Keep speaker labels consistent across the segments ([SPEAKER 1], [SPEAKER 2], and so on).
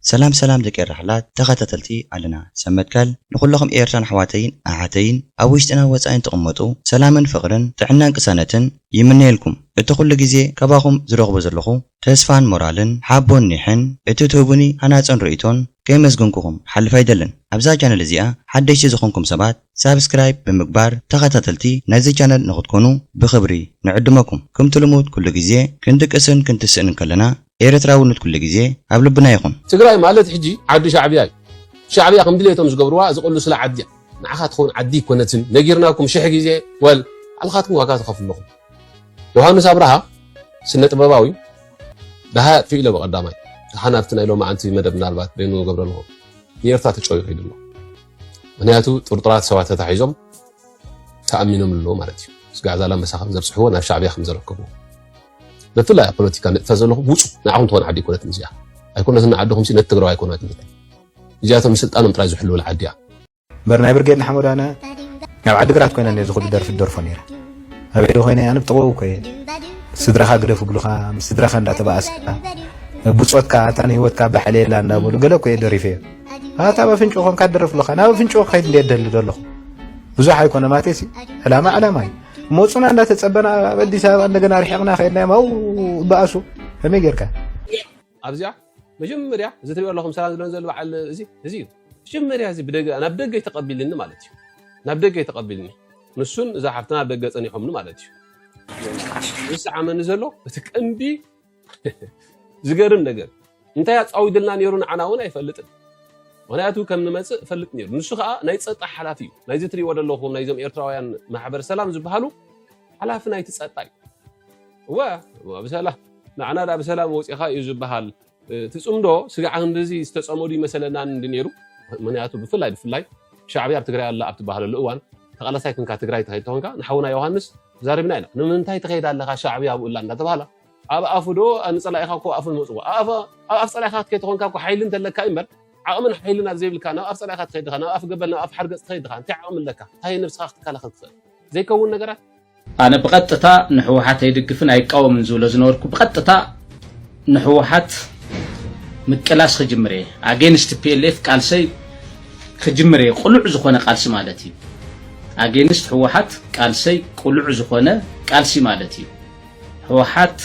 [SPEAKER 1] ሰላም ሰላም ደቂ ኤረሕላት ተኻታተልቲ ኣለና ሰብ መትከል ንኹለኹም ኤርትራን ኣሕዋተይን ኣሓተይን ኣብ ውሽጥና ወጻኢን ትቕመጡ ሰላምን ፍቕርን ጥዕናን ቅሳነትን ይምነየልኩም እቲ ኩሉ ግዜ ካባኹም ዝረኽቦ ዘለኹ ተስፋን ሞራልን ሓቦን ኒሕን እቲ ትህቡኒ ሃናጽን ርእይቶን ከይመስገንኩኹም ክሓልፍ ኣይደልን ኣብዛ ቻነል እዚኣ ሓደሽቲ ዝኾንኩም ሰባት ሳብስክራይብ ብምግባር ተኻታተልቲ ናይዚ ቻነል ንኽትኮኑ ብኽብሪ ንዕድመኩም ክምቲ ልሙድ ኩሉ ግዜ ክንድቅስን ክንትስእን እንከለና ኤረትራውነት ኩሉ ግዜ ኣብ ልብና ይኹን። ትግራይ ማለት ሕጂ
[SPEAKER 2] ዓዲ ሻዕብያ እዩ ሻዕብያ ከም ድሌቶም ዝገብርዋ ዝቅልሱላ ዓዲ እያ ንዓኻ ትኸውን ዓዲ ኣይኮነትን ነጊርናኩም ሽሕ ግዜ ወል ኣልኻትኩም ዋጋ ትኸፍሉ ኣለኹም ዮሃንስ ኣብርሃ ስነ ጥበባዊ ደሃይ ኣጥፊኡ ኢለ ብቀዳማይ ደሓን ኣብቲ ናይ ሎማዓንቲ መደብ ምናልባት በይኑ ገብረ ኣለኹ ንኤርትራ ተጨዩ ከይዱ ኣሎ ምክንያቱ ጥርጡራት ሰባት ተታሒዞም ተኣሚኖም ኣለዎ ማለት እዩ ስጋዕ ዛላ መሳኻም ዘብፅሕዎ ናብ ሻዕብያ ከም ዘረከቡ ብፍላይ ኣብ ፖለቲካ ንጥፈ ዘለኹም ውፁ ንዓኹም ትኾን ዓዲ ኣይኮነትን እዚኣ ኣይኮነትን ዓድኹም ነቲ ትግራዋይ ኣይኮነትን እዚኣቶም ንስልጣኖም ጥራይ ዝሕልውላ ዓዲ እያ እምበር ናይ ብርጌድ
[SPEAKER 3] ንሓመዱ ኣነ ኣብ ዓዲግራት ኮይነ ነዚ ኩሉ ደርፊ ደርፎ ነይረ ኣብ ዒዱ ኮይነ ኣነ ብጥቕኡ ኮየ ስድራኻ ግደፍ ብሉኻ ምስ ስድራኻ እንዳተባኣስካ ብፆትካ እታ ንሂወትካ ባሕሊ የላ እንዳበሉ ገለ ኮየ ደሪፈ እየ ኣታ ኣብ ኣፍንጮ ኮንካ ደርፍ ኣለኻ ናብ ኣፍንጮ ክኸይድ እንደ ደሊ ዘለኹ ብዙሕ ኣይኮነ ማቴሲ ዕላማ ዕላማ እዩ ሞፁና እንዳተፀበና ኣብ ኣዲስ ኣበባ እንደገና ርሒቕና ከይድና ዮም ኣው በኣሱ ከመይ ጌርካ ኣብዚኣ
[SPEAKER 2] መጀመርያ እዚ ትሪኦ ኣለኹም ሰላም ዝብለን ዘሎ በዓል እዚ እዚ እዩ መጀመርያ እዚ ብደገ ናብ ደገ ተቐቢልኒ ማለት እዩ ናብ ደገ ተቐቢልኒ ንሱን እዛ ሓፍትና ኣብ ደገ ፀኒሖምኒ ማለት እዩ ዝሰዓመኒ ዘሎ እቲ ቀንዲ ዝገርም ነገር እንታይ ኣፃዊድልና ነይሩ ንዓና እውን ኣይፈልጥን ምክንያቱ ከም ንመፅእ እፈልጥ ነይሩ ንሱ ከዓ ናይ ፀጥታ ሓላፊ እዩ ናይዚ ትሪእዎ ዘለኹም ናይዞም ኤርትራውያን ማሕበር ሰላም ዝበሃሉ ሓላፊ ናይቲ ፀጥታ እዩ እወ ብሰላም ንዓና ዳ ብሰላም ወፂኻ እዩ ዝበሃል እቲ ፅምዶ ስጋዕ ክንዲዚ ዝተፀመዱ ይመሰለናን እንዲ ነይሩ ምክንያቱ ብፍላይ ብፍላይ ሻዕብያ ኣብ ትግራይ ኣላ ኣብ ትበሃለሉ እዋን ተቓላሳይ ክንካ ትግራይ ተኸይድ ተኾንካ ንሓውና ዮሃንስ ተዛሪብና ኢና ንምንታይ ትከይድ ኣለካ ሻዕብያ ኣብኡ ኣላ እንዳተባህላ ኣብ ኣፉ ዶ ንፀላኢካ እኮ ኣፉ ዝመፅዎ ኣብ ኣፍ ፀላኢካ ክትከይድ ተኮንካ እኮ ሓይሊ እንተለካ እዩ እምበር ዓቕምን ሓይልን ኣብ ዘይብልካ ናብ ኣፍ ፀላኢካ ትኸይድ ድኻ ናብ ኣፍ ገበል ናብ ኣፍ ሓርገፅ ትኸይድ ድኻ እንታይ ዓቕሚ ኣለካ እንታይ ነብስካ ክትከላኸል ትኽእል ዘይከውን ነገራት ኣነ ብቐጥታ
[SPEAKER 4] ንሕወሓት ኣይድግፍን ኣይቃወምን ዝብሎ ዝነበርኩ ብቐጥታ ንሕወሓት ምቅላስ ክጅምር እየ ኣገይንስት ቲፒኤልኤፍ ቃልሰይ ክጅምር እየ ቁሉዕ ዝኾነ ቃልሲ ማለት እዩ ኣገይንስት ሕወሓት ቃልሰይ ቁሉዕ ዝኾነ ቃልሲ ማለት እዩ ሕወሓት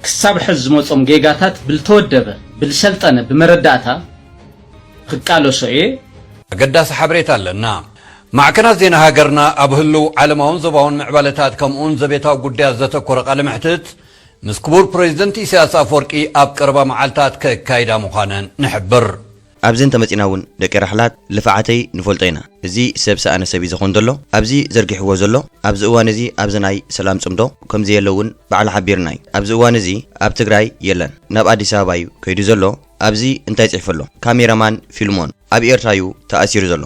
[SPEAKER 4] ክሳብ ሕዝ ዝመፆም ጌጋታት ብልተወደበ ብልሰልጠነ ብመረዳእታ ክቃለሶ እየ ኣገዳሲ
[SPEAKER 5] ሓበሬታ ኣለና። ማዕከናት ዜና ሃገርና ኣብ ህሉው ዓለማውን ዞባውን ምዕባለታት ከምኡውን ዘቤታዊ ጉዳያት ዘተኮረ ቃለ መሕትት ምስ ክቡር ፕረዚደንት ኢሳያስ ኣፍወርቂ ኣብ ቀረባ መዓልታት ከካይዳ ምዃነን ንሕብር። ኣብዚ እንተመጺና
[SPEAKER 1] ውን ደቂ ራሕላት ልፋዓተይ ንፈልጦ ኢና እዚ ሰብ ሰኣነ ሰብ እዩ ዘኾን ዘሎ ኣብዚ ዘርጊሕዎ ዘሎ ኣብዚ እዋን እዚ ኣብዚ ናይ ሰላም ጽምዶ ከምዘየለ ውን ባዕሉ ሓቢርና እዩ ኣብዚ እዋን እዚ ኣብ ትግራይ የለን ናብ ኣዲስ ኣበባ እዩ ከይዱ ዘሎ ኣብዚ እንታይ ጽሕፉ ኣሎ ካሜራ ማን ፊልሞን ኣብ ኤርትራ እዩ ተኣሲሩ ዘሎ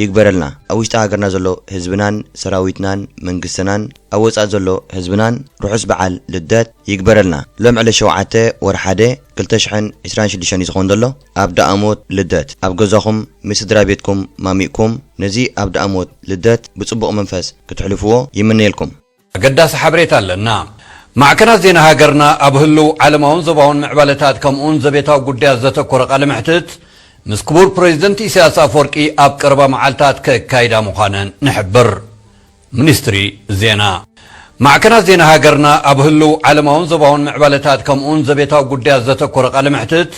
[SPEAKER 1] ይግበረልና ኣብ ውሽጢ ሃገርና ዘሎ ህዝብናን ሰራዊትናን መንግስትናን ኣብ ወጻኢ ዘሎ ህዝብናን ርሑስ በዓል ልደት ይግበረልና ሎም ዕለት ሸውዓተ ወርሒ ሓደ ክልተ ሽሕን ዕስራን ሽዱሽተን እዩ ዝኮን ዘሎ ኣብ ደኣሞት ልደት ኣብ ገዛኩም ምስ ስድራቤትኩም ማሚቅኩም ነዚ ኣብ ደኣሞት ልደት ብጽቡቅ መንፈስ ክትሕልፍዎ ይምነየልኩም ኣገዳሲ
[SPEAKER 5] ሓበሬታ ኣለና። ማዕከናት ዜና ሃገርና ኣብ ህሉው ዓለማውን ዞባውን ምዕባለታት ከምኡውን ዘቤታዊ ጉዳያት ዘተኮረ ቃለ መሕትት ምስ ክቡር ፕረዚደንት ኢሳያስ ኣፍወርቂ ኣብ ቀረባ መዓልታት ከካይዳ ምዃነን ንሕብር። ሚኒስትሪ ዜና ማዕከናት ዜና ሃገርና ኣብ ህሉው ዓለማውን ዞባውን ምዕባለታት ከምኡውን ዘቤታዊ ጉዳያት ዘተኮረ ቃለ መሕትት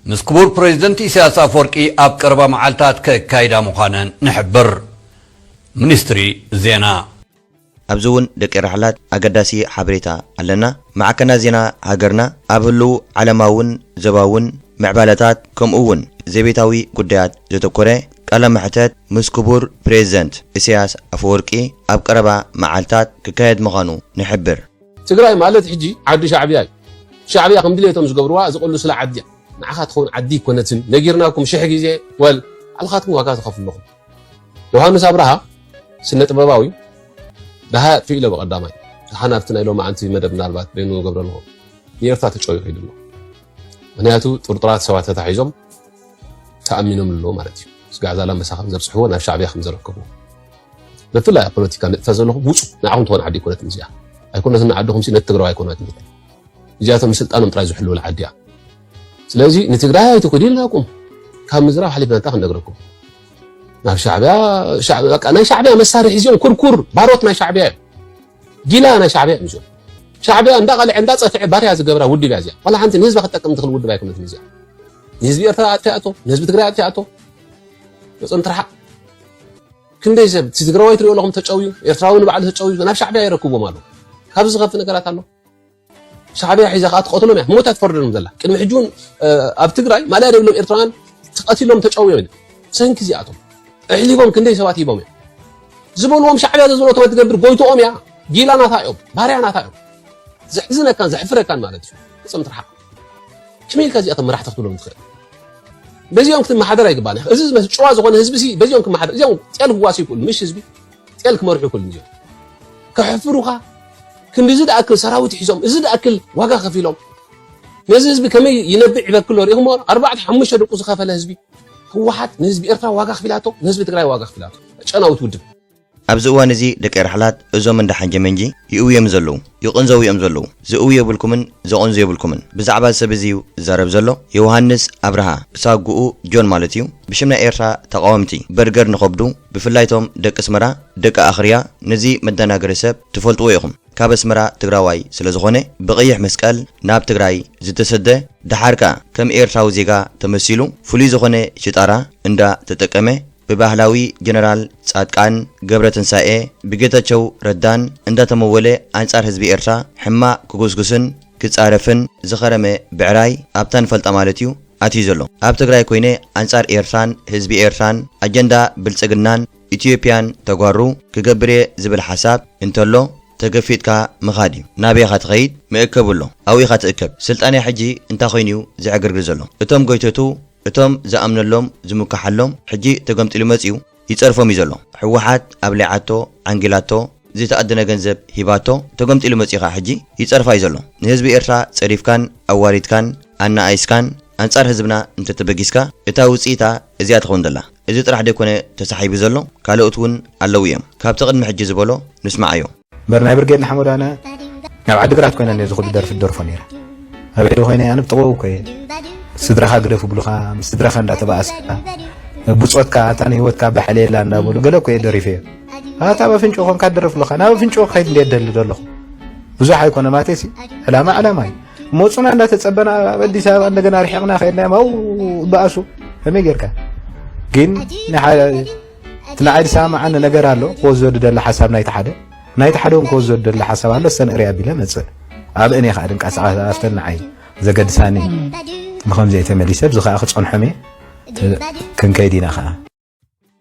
[SPEAKER 5] ምስ ክቡር ፕረዚደንት ኢሳያስ ኣፍወርቂ ኣብ ቀረባ መዓልታት ከካይዳ ምዃነን ንሕብር። ሚኒስትሪ ዜና ኣብዚ
[SPEAKER 1] እውን ደቂ ራሕላት ኣገዳሲ ሓበሬታ ኣለና። ማዕከናት ዜና ሃገርና ኣብ ህሉው ዓለማውን ዘባውን ምዕባለታት ከምኡ እውን ዘቤታዊ ጉዳያት ዘተኮረ ቃለ መሕተት ምስ ክቡር ፕሬዚደንት ኢሳያስ ኣፈወርቂ ኣብ ቀረባ መዓልታት ክካየድ ምዃኑ ንሕብር። ትግራይ ማለት
[SPEAKER 2] ሕጂ ዓዲ ሻዕብያ እዩ ሻዕብያ ከም ድሌቶም ዝገብርዋ ዝቅልሱላ ዓዲ እያ ንዓኻ ትኸውን ዓዲ ኣይኮነትን ነጊርናኩም ሽሕ ግዜ ወል ኣልኻትኩም ዋጋ ትኸፍሉ ኣለኹም። ዮሃንስ ኣብርሃ ስነ ጥበባዊ ደሃይ ኣጥፊኡ ኢለ ብቀዳማይ ደሓን ኣብቲ ናይ ሎማዓንቲ መደብ ምናልባት በይኑ ገብረልዎ ንኤርትራ ተጨውዩ ከይዱ ኣሎ ምክንያቱ ጥርጡራት ሰባት ተታሒዞም ተኣሚኖም ኣለዎ ማለት እዩ ስጋዕ ዛላምበሳ ከም ዘብፅሕዎ ናብ ሻዕብያ ከም ዘረከብዎ ብፍላይ ኣብ ፖለቲካ ንጥፈ ዘለኹም ውፁ ንዓኹም ትኾን ዓዲ ይኮነት እዚኣ ኣይኮነትን ንዓድኹም ነቲ ትግራዊ ኣይኮነትን እዚኣቶም ስልጣኖም ጥራይ ዝሕልውላ ዓዲ እያ ስለዚ ንትግራይ ኣይትኹዱ ኢልና ቁም ካብ ምዝራብ ሓሊፍና እንታይ ክንነግረኩም ናብ ሻዕብያ ናይ ሻዕብያ መሳርሒ እዚኦም ኩርኩር ባሮት ናይ ሻዕብያ እዮም ጊላ ናይ ሻዕብያ እዮም እዚኦም ሻዕብያ እንዳቐልዐ እንዳፀፍዐ ባርያ ዝገብራ ውድብ እያ እዚኣ ዋላ ሓንቲ ንህዝባ ክጠቅም ትኽእል ውድብ ኣይኮነትን እዚኣ ንህዝቢ ኤርትራ ኣጥፊኣቶ ንህዝቢ ትግራይ ኣጥፊኣቶ መፅም ትርሓቕ ክንደይ ሰብ እቲ ትግራዋይ ትሪኦ ኣለኹም ተጨውዩ ኤርትራዊ ንባዕሉ ተጨውዩ ናብ ሻዕብያ የረክብዎም ኣሎ ካብዚ ዝኸፍእ ነገራት ኣሎ ሻዕብያ ሒዛ ከኣ ትቀትሎም እያ ሞታ ትፈርደሎም ዘላ ቅድሚ ሕጂ እውን ኣብ ትግራይ ማእለያ ዘይብሎም ኤርትራውያን ተቀቲሎም ተጨውዮም ኢና ብሰንኪ እዚኣቶም ኣሕሊፎም ክንደይ ሰባት ሂቦም እዮም ዝበልዎም ሻዕብያ ዘዝበለቶም ትገብር ጎይትኦም እያ ጊላ ናታ እዮም ባርያ ናታ እዮም ዘሕዝነካን ዘሕፍረካን ማለት እዩ ፍፅም ትርሓቅ ከመይ ኢልካ እዚኣቶም መራሕቲ ክትብሎም ትኽእል በዚኦም ክትመሓደር ኣይግባእን እዚ ጨዋ ዝኾነ ህዝቢ በዚኦም ክመሓደር እዚኦም ጤል ክዋሲ ይክእሉ ምሽ ህዝቢ ጤል ክመርሑ ክሉ እዮም ከሕፍሩኻ ክንዲዚ ዝኣክል ሰራዊት ሒዞም እዚ ዝኣክል ዋጋ ከፊሎም ነዚ ህዝቢ ከመይ ይነብዕ ይበክሎ ርኢኹሞ ኣርባዕተ ሓሙሽተ ደቁ ዝኸፈለ ህዝቢ ህወሓት ንህዝቢ ኤርትራ ዋጋ ክፊላቶ ንህዝቢ ትግራይ ዋጋ ክፊላቶ ጨናዊት ውድብ ኣብዚ እዋን እዚ
[SPEAKER 1] ደቂ ራሕላት እዞም እንዳ ሓንጀመንጂ ይእውዩ እዮም ዘለዉ ይቕንዘዉ እዮም ዘለዉ ዝእውዩ የብልኩምን ዘቕንዙ የብልኩምን ብዛዕባ እዚ ሰብ እዚ እዩ ዝዛረብ ዘሎ የውሃንስ ኣብርሃ ብሳጉኡ ጆን ማለት እዩ ብሽም ናይ ኤርትራ ተቓወምቲ በርገር ንኸብዱ ብፍላይ ቶም ደቂ ኣስመራ ደቂ ኣኽርያ ነዚ መዳናገሪ ሰብ ትፈልጥዎ ኢኹም ካብ ኣስመራ ትግራዋይ ስለ ዝኾነ ብቀይሕ መስቀል ናብ ትግራይ ዝተሰደ ደሓር ከኣ ከም ኤርትራዊ ዜጋ ተመሲሉ ፍሉይ ዝኾነ ሽጣራ እንዳ ተጠቀመ ብባህላዊ ጀነራል ጻድቃን ገብረትንሳኤ ብጌታቸው ረዳን እንዳ ተመወለ ኣንጻር ህዝቢ ኤርትራ ሕማቅ ክጉስጉስን ክጻረፍን ዝኸረመ ብዕራይ ኣብታ ንፈልጣ ማለት እዩ ኣትዩ ዘሎ ኣብ ትግራይ ኮይነ ኣንጻር ኤርትራን ህዝቢ ኤርትራን ኣጀንዳ ብልጽግናን ኢትዮጵያን ተጓሩ ክገብር እየ ዝብል ሓሳብ እንተሎ ተገፊጥካ ምኻድ እዩ ናበይ ኢኻ ትኸይድ መእከቢ ኣሎ ኣብኡ ኢኻ ትእከብ ስልጣንያ ሕጂ እንታይ ኮይኑ እዩ ዝዕግርግር ዘሎ እቶም ጎይቶቱ እቶም ዝኣምነሎም ዝሙካሓሎም ሕጂ ተገምጢሉ መጽዩ ይጸርፎም እዩ ዘሎ ሕወሓት ኣብሊዓቶ ዓንጊላቶ ዘይተኣደነ ገንዘብ ሂባቶ ተገምጢሉ መጺኡ ከኣ ሕጂ ይጸርፋ እዩ ዘሎ ንህዝቢ ኤርትራ ጸሪፍካን ኣዋሪድካን ኣናኣኢስካን ኣንጻር ህዝብና እንተተበጊስካ እታ ውጽኢታ እዚኣ ትኸውን ዘላ እዚ ጥራሕ ደይኮነ ተሳሒቡ ዘሎ ካልኦት ውን ኣለዉ እዮም ካብቲ ቅድሚ ሕጂ ዝበሎ ንስምዓዮ እምበር ናይ ብርጌድ
[SPEAKER 3] ንሓመዱ ኣነ ናብ ዓዲግራት ኮይነ ነዚ ኩሉ ደርፊ ደርፎ ነይረ ኣብ ዒዱ ኮይነ ኣነ ብጥቕኡ እኮ እየ ስድራኻ ግደፍ ብሉኻ ምስ ስድራኻ እንዳተባኣስካ ብፆትካ እታ ንሂወትካ ባሕለየላ እንዳበሉ ገለ እኮ እየ ደሪፈ እየ ኣታ ኣብ ኣፍንጭኡ ኮንካ ደርፍ ኣለኻ ናብ ኣፍንጭኡ ክኸይድ እንደ ደሊ ዘለኹ ብዙሕ ኣይኮነ ማቴሲ ዕላማ ዕላማ እዩ መፁና እንዳተፀበና ኣብ ኣዲስ ኣበባ እንደገና ርሒቕና ከይድና ማው በኣሱ ከመይ ጌርካ ግን እቲ ንዓይ ዝሰማማዓኒ ነገር ኣሎ ክወስዶ ዝደሊ ሓሳብ ናይቲ ሓደ ናይቲ ሓደ እውን ክወስዶ ዝደሊ ሓሳብ ኣሎ እሰን እርይ ኣቢለ መፅእ ኣብ እኔ ከዓ ድንቃሳቃስ ኣፍተን ንዓይ ዘገድሳኒ ንከምዚኦ ተመሊሰ ብዚ ከዓ ክፀንሖም እየ
[SPEAKER 1] ክንከይድ
[SPEAKER 3] ኢና ከዓ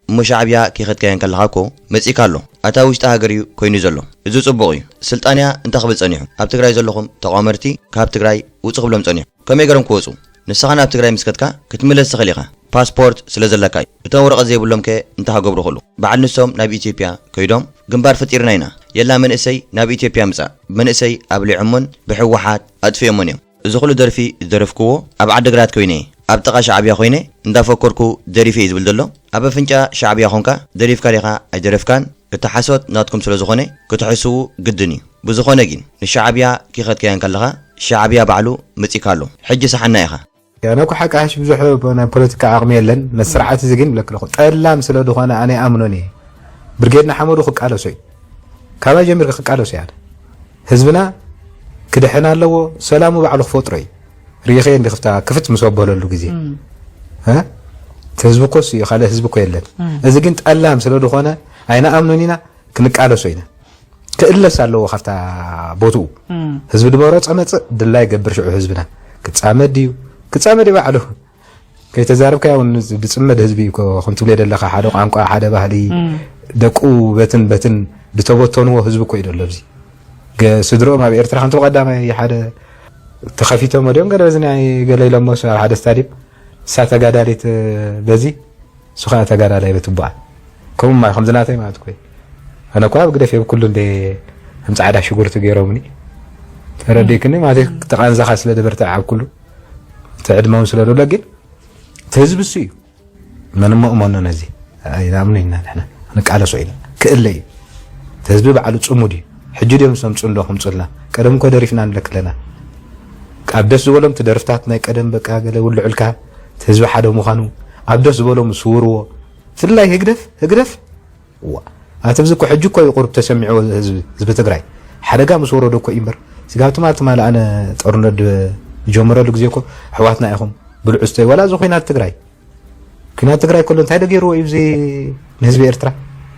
[SPEAKER 1] እሞ
[SPEAKER 3] ሻዕብያ
[SPEAKER 1] ከይኸድካዮ እንከለኻ እኮ መጺእካ ኣሎ ኣታ ውሽጢ ሃገር እዩ ኮይኑ ዘሎ እዚ ጽቡቕ እዩ ስልጣንያ እንታይ ክብል ጸኒሑ ኣብ ትግራይ ዘለኹም ተቋመርቲ ካብ ትግራይ ውጹ ክብሎም ጸኒሑ ከመይ ገሮም ክወጹ ንስኻ ናብ ትግራይ ምስ ከድካ ክትምለስ ትኽእል ኢኻ ፓስፖርት ስለ ዘለካ እዩ እቶም ወረቀት ዘይብሎም ከ እንታይ ሀገብሩ ክሉ በዓል ንሶም ናብ ኢትዮጵያ ከይዶም ግንባር ፈጢርና ኢና የላ መንእሰይ ናብ ኢትዮጵያ ምጻእ መንእሰይ ኣብሊዖሞን ብሕዋሓት ኣጥፊኦሞን እዮም እዚ ኩሉ ደርፊ ዝደረፍክዎ ኣብ ዓድግራት ኮይነ እየ ኣብ ጥቃ ሻዕብያ ኮይነ እንዳፎኮርኩ ደሪፈ እየ ዝብል ዘሎ ኣብ ኣፍንጫ ሻዕብያ ኮንካ ደሪፍካ ዲኻ ኣይደረፍካን እቲ ሓሶት ናትኩም ስለ ዝኾነ ክትሕስዉ ግድን እዩ ብዝኾነ ጊን ንሻዓብያ ኪኸድካያ እንከለኻ ሻዓብያ ባዕሉ መጺካ ኣሎ ሕጂ ሳሓና ኢኻ። ናይ ኩሓቂ ሓሺሽ
[SPEAKER 3] ብዙሕ ናይ ፖለቲካ ዓቅሚ የለን ነቲ ስርዓት እዚ ግን ይብለክለኩ ጠላም ስለ ድኮነ ኣነ ኣይኣምኖን እየ ብርጌድ ንሓመዱ ክቃለሶ እዩ ካባይ ጀሚርካ ክቃለሶ እየ ኣነ ህዝብና ክድሕን ኣለዎ ሰላሙ ባዕሉ ክፈጥሮ እዩ ሪኢኺ እንዲ ክፍታ ክፍት ምስ ኣበለሉ ግዜ እ እቲ ህዝቢ እኮ እሱ እዩ ካልእ ህዝቢ እኮ የለን እዚ ግን ጠላም ስለ ዝኾነ ኣይንኣምኖን ኢና ክንቃለሶ ኢና ክእለስ ኣለዎ ካብታ ቦትኡ ህዝቢ ድመሮ ጸመጽእ ድላይ ገብር ሽዑ ህዝብና ክጻመድ ድዩ ክጻመድ ባዕሉ ከይተዛረብካያ ውን ዝፅመድ ህዝቢ እዩ እኮ ከም ትብልዮ ዘለካ ሓደ ቋንቋ ሓደ ባህሊ ደቁ በትን በትን ዝተበተንዎ ህዝቢ እኮ እዩ ዘሎ ኣብዚ ስድርኦም ኣብ ኤርትራ ከምቲ ብቀዳማይ ሓደ ተኸፊቶም ድዮም ገለ በዚ ናይ ገለ ኢሎሞ ኣብ ሓደ ስታድየም እሳ ተጋዳሊት በዚ እሱ ከኣ ተጋዳላይ ብትባዕ ከምኡ ማይ ከምዚ ናተይ ማለት ኮይ ኣነ እኳ ኣብ ግደፍ የብኩሉ እንደ ከም ጻዕዳ ሽጉርቲ ገይሮምኒ ተረዲክኒ ማለት ተቃንዛኻ ስለ ደበርትዕ ኣብ ኩሉ ትዕድመውን ስለ ደሎ ግን እቲ ህዝቢ እሱ እዩ መንመእመኖ ነዚ ኣይናምኑ ኢና ንሕና ንቃለሶ ኢና ክእለ እዩ እቲ ህዝቢ ባዕሉ ፅሙድ እዩ ሕጂ ድዮም ሰም ፅንዶ ክምፁልና ቀደም እኮ ደሪፍና ንለክለና ኣብ ደስ ዝበሎም ትደርፍታት ናይ ቀደም በቃ ገለ ውልዑልካ እቲ ህዝቢ ሓደ ምዃኑ ኣብ ደስ ዝበሎ ምስ ስውርዎ ብፍላይ ህግደፍ ህግደፍ እዋ ኣቲ ህዝቢ እኮ ሕጂ እኮ እዩ ቁርብ ተሰሚዕዎ ህዝቢ ህዝቢ ትግራይ ሓደጋ ምስ ወረዶ እኮ እዩ እምበር ስጋብ ትማል ትማል ኣነ ጦርነት ዝጀመረሉ ግዜ እኮ ኣሕዋትና ኢኹም ብልዑ ስተዩ ዋላ እዚ ኩናት ትግራይ ኩናት ትግራይ ከሎ እንታይ ደገይርዎ እዩ እዚ ንህዝቢ ኤርትራ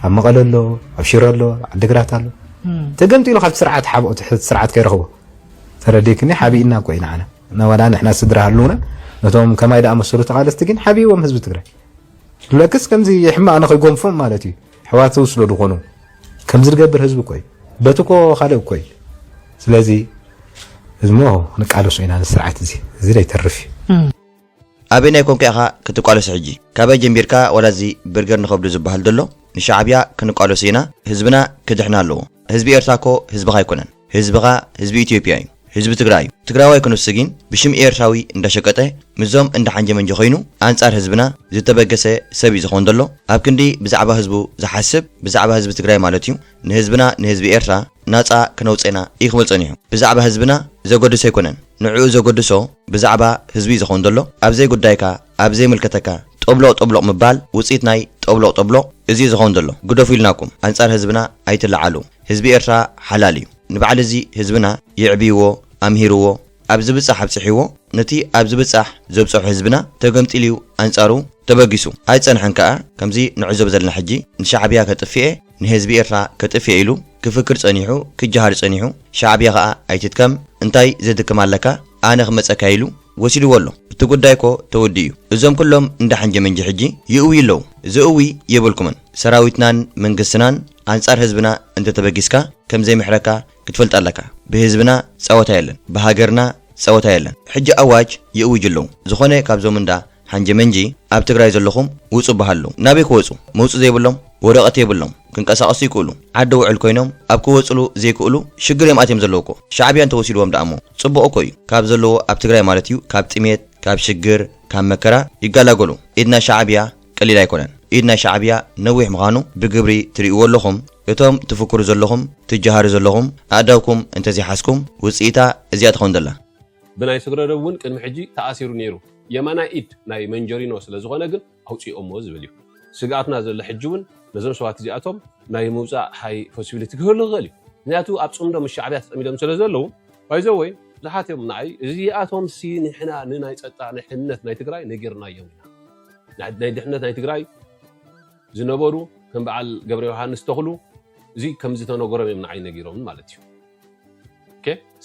[SPEAKER 3] ኣብ መቐለ ኣሎ ኣብ ሽረ ኣሎ ዓዲግራት ኣሎ ተገምጢሉ ካብቲ ስርዓት ሓብኦ ትሕቲ ስርዓት ከይረኽቦ ተረዲክኒ ሓቢእና እኮ ኢና ዓና ዋላ ንሕና ስድራ ሃልውና ነቶም ከማይ ዝኣመሰሉ ተቓለስቲ ግን ሓቢዎም ህዝቢ ትግራይ ብለክስ ከምዚ ሕማቕ ንኸይጎንፎም ማለት እዩ ሕዋት ዝውስዶ ዝኾኑ ከምዚ ዝገብር ህዝቢ እኮ እዩ በቲ እኮ ካልእ እኮ እዩ ስለዚ እሞ ንቃለሶ ኢና ንስርዓት እዚ እዚ ዘይተርፍ እዩ
[SPEAKER 1] ኣበየናይ ኮንካ ኢኻ ክትቃለሶ ሕጂ ካበይ ጀምቢርካ ዋላ እዚ ብርገር ንኸብዱ ዝብሃል ደሎ ንሻዓብያ ክንቃለሶ ኢና ህዝብና ክድሕን ኣለዎ ህዝቢ ኤርትራ እኮ ህዝብኻ ኣይኮነን ህዝብኻ ህዝቢ ኢትዮጵያ እዩ ህዝቢ ትግራይ እዩ ትግራዋይ ክንሱ ጊን ብሽም ኤርትራዊ እንዳሸቀጠ ምስዞም እንዳሓንጀመንጀ ኮይኑ ኣንጻር ህዝብና ዝተበገሰ ሰብ እዩ ዝኾን ደሎ ኣብ ክንዲ ብዛዕባ ህዝቡ ዝሓስብ ብዛዕባ ህዝቢ ትግራይ ማለት እዩ ንህዝብና ንህዝቢ ኤርትራ ናጻ ክነውጽእ ኢና ኢክብል ጸኒሑ ብዛዕባ ህዝብና ዘጎድሶ ኣይኮነን ንዕኡ ዘገድሶ ብዛዕባ ህዝቢ'ዩ ዝኸውን ዘሎ። ኣብ ዘይጉዳይካ፣ ኣብ ዘይምልከተካ ጦብሎቕ ጦብሎቕ ምባል ውጽኢት ናይ ጦብሎቕ ጦብሎቕ እዚ'ዩ ዝኸውን ዘሎ። ግደፉ ኢልናኩም ኣንጻር ህዝብና ኣይትለዓሉ። ህዝቢ ኤርትራ ሓላል'ዩ። ንበዓል እዚ ህዝብና የዕብይዎ፣ ኣምሂርዎ፣ ኣብ ዝብጻሕ ኣብጽሕዎ፣ ነቲ ኣብ ዝብጻሕ ዘብጸሖ ህዝብና ተገምጢሉ'ዩ ኣንጻሩ ተበጊሱ። ኣይጸንሐን ከኣ ከምዚ ንዕዘቦ ዘለና ሕጂ ንሻዕብያ ከጥፊ'የ፣ ንህዝቢ ኤርትራ ከጥፌ ኢሉ ክፍክር ጸኒሑ ክጀሃር ጸኒሑ ሻዕብያ ከኣ ኣይትድከም እንታይ ዘድክም ኣለካ ኣነ ክመጸካ ኢሉ ወሲድዎ ኣሎ እቲ ጉዳይ እኮ ተወዲኡ እዩ እዞም ኩሎም እንዳ ሐንጀመንጂ ሕጂ ይእውዩ ኣለዉ ዘእዊ የብልኩምን ሰራዊትናን መንግስትናን ኣንጻር ህዝብና እንተተበጊስካ ከምዘይምሕረካ ክትፈልጥ ኣለካ ብህዝብና ጸወታ የለን ብሃገርና ጸወታ የለን ሕጂ ኣዋጅ ይእውጁ ኣለዉ ዝኮነ ካብዞም እንዳ ሓንጀመንጂ ኣብ ትግራይ ዘለኹም ውጹ በሃሉ ናበይ ክወጹ መውጽ ዘይብሎም ወረቀት የብሎም ክንቀሳቀሱ ይክእሉ ዓዲ ውዕል ኮይኖም ኣብ ክወጽሉ ዘይክእሉ ሽግር እዮም ኣትዮም ዘለዉ እኮ ሻዕብያ እንተወሲድዎም ደኣ እሞ ጽቡቅ እኮ እዩ ካብ ዘለዎ ኣብ ትግራይ ማለት እዩ ካብ ጥሜት ካብ ሽግር ካብ መከራ ይጋላገሉ ኢድና ሻዕብያ ቀሊል ኣይኮነን ኢድ ናይ ሻዕብያ ነዊሕ ምኻኑ ብግብሪ ትሪእዎ ኣለኹም እቶም ትፍክሩ ዘለኹም ትጃሃሩ ዘለኹም ኣእዳውኩም እንተዘይሓዝኩም ውጽኢታ እዚኣ ትኸውን ዘላ። ብናይ ስግረዶብ
[SPEAKER 2] ውን ቅድሚ ሕጂ ተኣሲሩ ኔሩ የማናይ ኢድ ናይ መንጀሪኖ ስለ ዝኾነ ግን ኣውጺኦሞ ዝብል ዩ ስግኣትና ዘሎ ሕጂ ውን ነዞም ሰባት እዚኣቶም ናይ ምውጻእ ሃይ ፖሲቢሊቲ ክህሉ ክኽእል ዩ ምኽንያቱ ኣብ ጽምዶ ምስ ሻዕብያ ተጸሚዶም ስለ ዘለዉ ባይዘወይ ብዙሓት ዮም ንዓይ እዚኣቶምሲ ንሕና ንናይ ጸጥታ ናይ ሕንነት ናይ ትግራይ ነጊርናዮም ኢና። ናይ ድሕነት ናይ ትግራይ ዝነበሩ ከም በዓል ገብረ ዮሃንስ ተኽሉ እዚ ከም ዝተነገሮም እዮም ንዓይ ነጊሮምን ማለት እዩ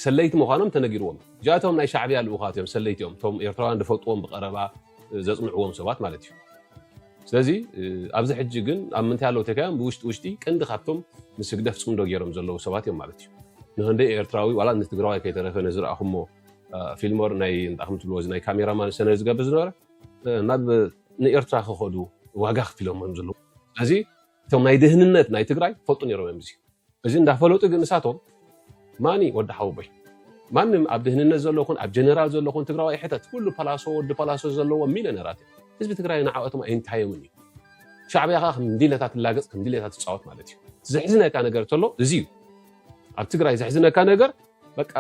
[SPEAKER 2] ሰለይቲ ምዃኖም ተነጊርዎም እዚኣቶም ናይ ሻዕብያ ልኡኻት እዮም ሰለይቲ እዮም እቶም ኤርትራውያን ዝፈልጥዎም ብቀረባ ዘፅንዕዎም ሰባት ማለት እዩ ስለዚ ኣብዚ ሕጂ ግን ኣብ ምንታይ ኣለዉ ተካዮም ብውሽጢ ውሽጢ ቀንዲ ካብቶም ምስ ህግደፍ ፅምዶ ገይሮም ዘለዉ ሰባት እዮም ማለት እዩ ንክንደይ ኤርትራዊ ዋላ ንትግራዋይ ከይተረፈ ነዝረኣኹሞ ፊልሞር ናይ እንታይ ከምትብልዎ እዚ ናይ ካሜራማን ሰነ ዝገብር ዝነበረ ናብ ንኤርትራ ክኸዱ ዋጋ ከፊሎም እዮም ዘለዉ ስለዚ እቶም ናይ ድህንነት ናይ ትግራይ ይፈልጡ ነይሮም እዮም እዚ እዚ እንዳፈለጡ ግን ንሳቶም ማኒ ወዲ ሓውቦይ ማንም ኣብ ድህንነት ዘሎ ኹን ኣብ ጀነራል ዘሎ ኹን ትግራዋይ ሕተት ኩሉ ፓላሶ ወዲ ፓላሶ ዘለዎ ሚሊዮነራት እዮም ህዝቢ ትግራይ ንዓኦቶም ኣይንታዮምን እዩ ሻዕብያ ከዓ ከም ድሌታ ትላገፅ ከም ድሌታ ትፃወት ማለት እዩ ዘሕዝነካ ነገር ተሎ እዚ እዩ ኣብ ትግራይ ዘሕዝነካ ነገር በቃ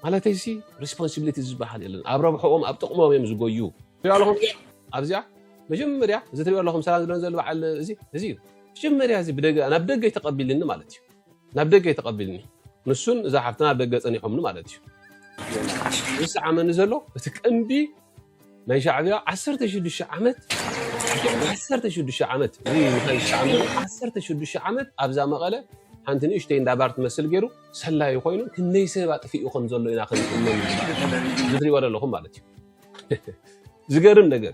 [SPEAKER 2] ማለተይ ሲ ሪስፖንሲቢሊቲ ዝበሃል የለን ኣብ ረብሐኦም ኣብ ጥቕሞም እዮም ዝጎዩ ኣብዚኣ መጀመርያ እዚ ትሪኦ ኣለኹም ሰላም ዝለን ዘሎ በዓል እዚ እዚ እዩ መጀመርያ እዚ ብደገ ናብ ደገ ተቐቢልኒ ማለት እዩ ናብ ደገ ተቐቢልኒ ንሱን እዛ ሓፍትና ኣብ ደገ ፀኒሖምኒ ማለት እዩ ዝሰዓመኒ ዘሎ እቲ ቀንዲ ናይ ሻዕብያ ዓሰርተ ሽዱሽተ ዓመት ዓሰርተ ሽዱሽተ ዓመት ምኻን ዝተዓመሉ ዓሰርተ ሽዱሽተ ዓመት ኣብዛ መቐለ ሓንቲ ንእሽተይ እንዳባር ትመስል ገይሩ ሰላዩ ኮይኑ ክንደይ ሰብ ኣጥፊኡ ከም ዘሎ ኢና ክንእመን ዝትሪእዎ ዘለኹም ማለት እዩ ዝገርም ነገር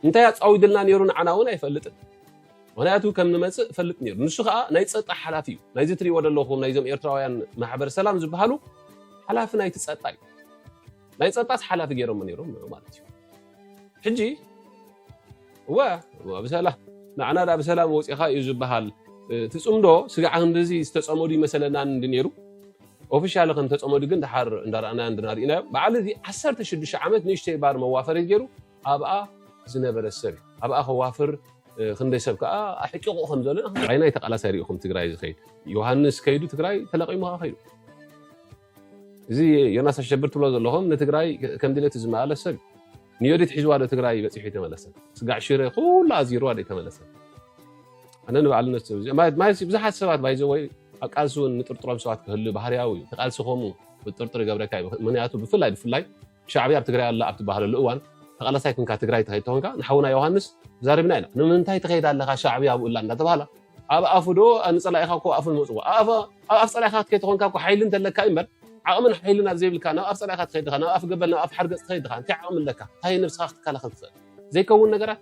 [SPEAKER 2] እንታይ ኣፃዊድልና ነይሩ ንዓና እውን ኣይፈልጥን ምክንያቱ ከም ንመፅእ ፈልጥ ነይሩ ንሱ ከዓ ናይ ፀጥታ ሓላፊ እዩ ናይዚ ትሪእዎ ዘለኹም ናይዞም ኤርትራውያን ማሕበር ሰላም ዝበሃሉ ሓላፊ ናይቲ ፀጥታ እዩ ናይ ፀጥታስ ሓላፊ ገይሮሞ ነይሮም ንዑ ማለት እዩ ሕጂ እወ ብሰላ ንዓና ዳ ብሰላም ወፂኻ እዩ ዝበሃል እቲ ፅምዶ ስጋዕ ክንድዚ ዝተፀመዱ ይመሰለና እንዲ ነይሩ ኦፊሻሊ ከም ተፀመዱ ግን ድሓር እንዳረኣናዮ እንድናርእናዮ በዓል እዚ 16 ዓመት ንእሽተይ ባር መዋፈሪት ገይሩ ኣብኣ ዝነበረ ሰብ እዩ ኣብኣ ከዋፍር ክንደይ ሰብ ከዓ ኣሕቂቑ ከም ዘሎ ዓይናይ ተቃላሳይ ሪኢኹም ትግራይ ዝኸይድ ዮሃንስ ከይዱ ትግራይ ተለቂሙ ከዓ ከይዱ እዚ ዮናስ ኣሸብር ትብሎ ዘለኹም ንትግራይ ከም ድሌቱ ዝመላለስ ሰብ ንዮዲት ሒዝዋ ዶ ትግራይ በፂሑ ተመለሰ ስጋዕ ሽረ ኩሉ ኣዚርዋ ዶ ተመለሰ ኣነ ንባዕሉ ነሱ ብዙሓት ሰባት ባይዘወይ ኣብ ቃልሲ እውን ንጥርጥሮም ሰባት ክህሉ ባህርያዊ እዩ ተቃልሲ ከምኡ ጥርጥር ይገብረካ እዩ ምክንያቱ ብፍላይ ብፍላይ ሻዕብያ ኣብ ትግራይ ኣላ ኣብ ትበሃለሉ እዋን ተቓላሳይ ኮንካ ትግራይ ትኸይድ ተኾንካ ንሓውና ዮሃንስ ተዛሪብና ኢና ንምንታይ ትኸይድ ኣለኻ ሻዕብያ ኣብኡ ኣላ እንዳተባህላ ኣብ ኣፉ ዶ ንፀላኢኻ እኮ ኣፉ ንመፅዎ ኣብ ኣፍ ፀላኢኻ ክትከይድ ተኾንካ እኮ ሓይሊ እንተለካ እዩ እምበር ዓቕምን ሓይልን ኣብ ዘይብልካ ናብ ኣፍ ፀላኢኻ ትኸይድ ድኻ ናብ ኣፍ ገበል ናብ ኣፍ ሓርገፅ ትኸይድ ድኻ እንታይ ዓቕሚ ኣለካ እንታይ ንብስኻ ክትከላኸል ትኽእል ዘይከውን ነገራት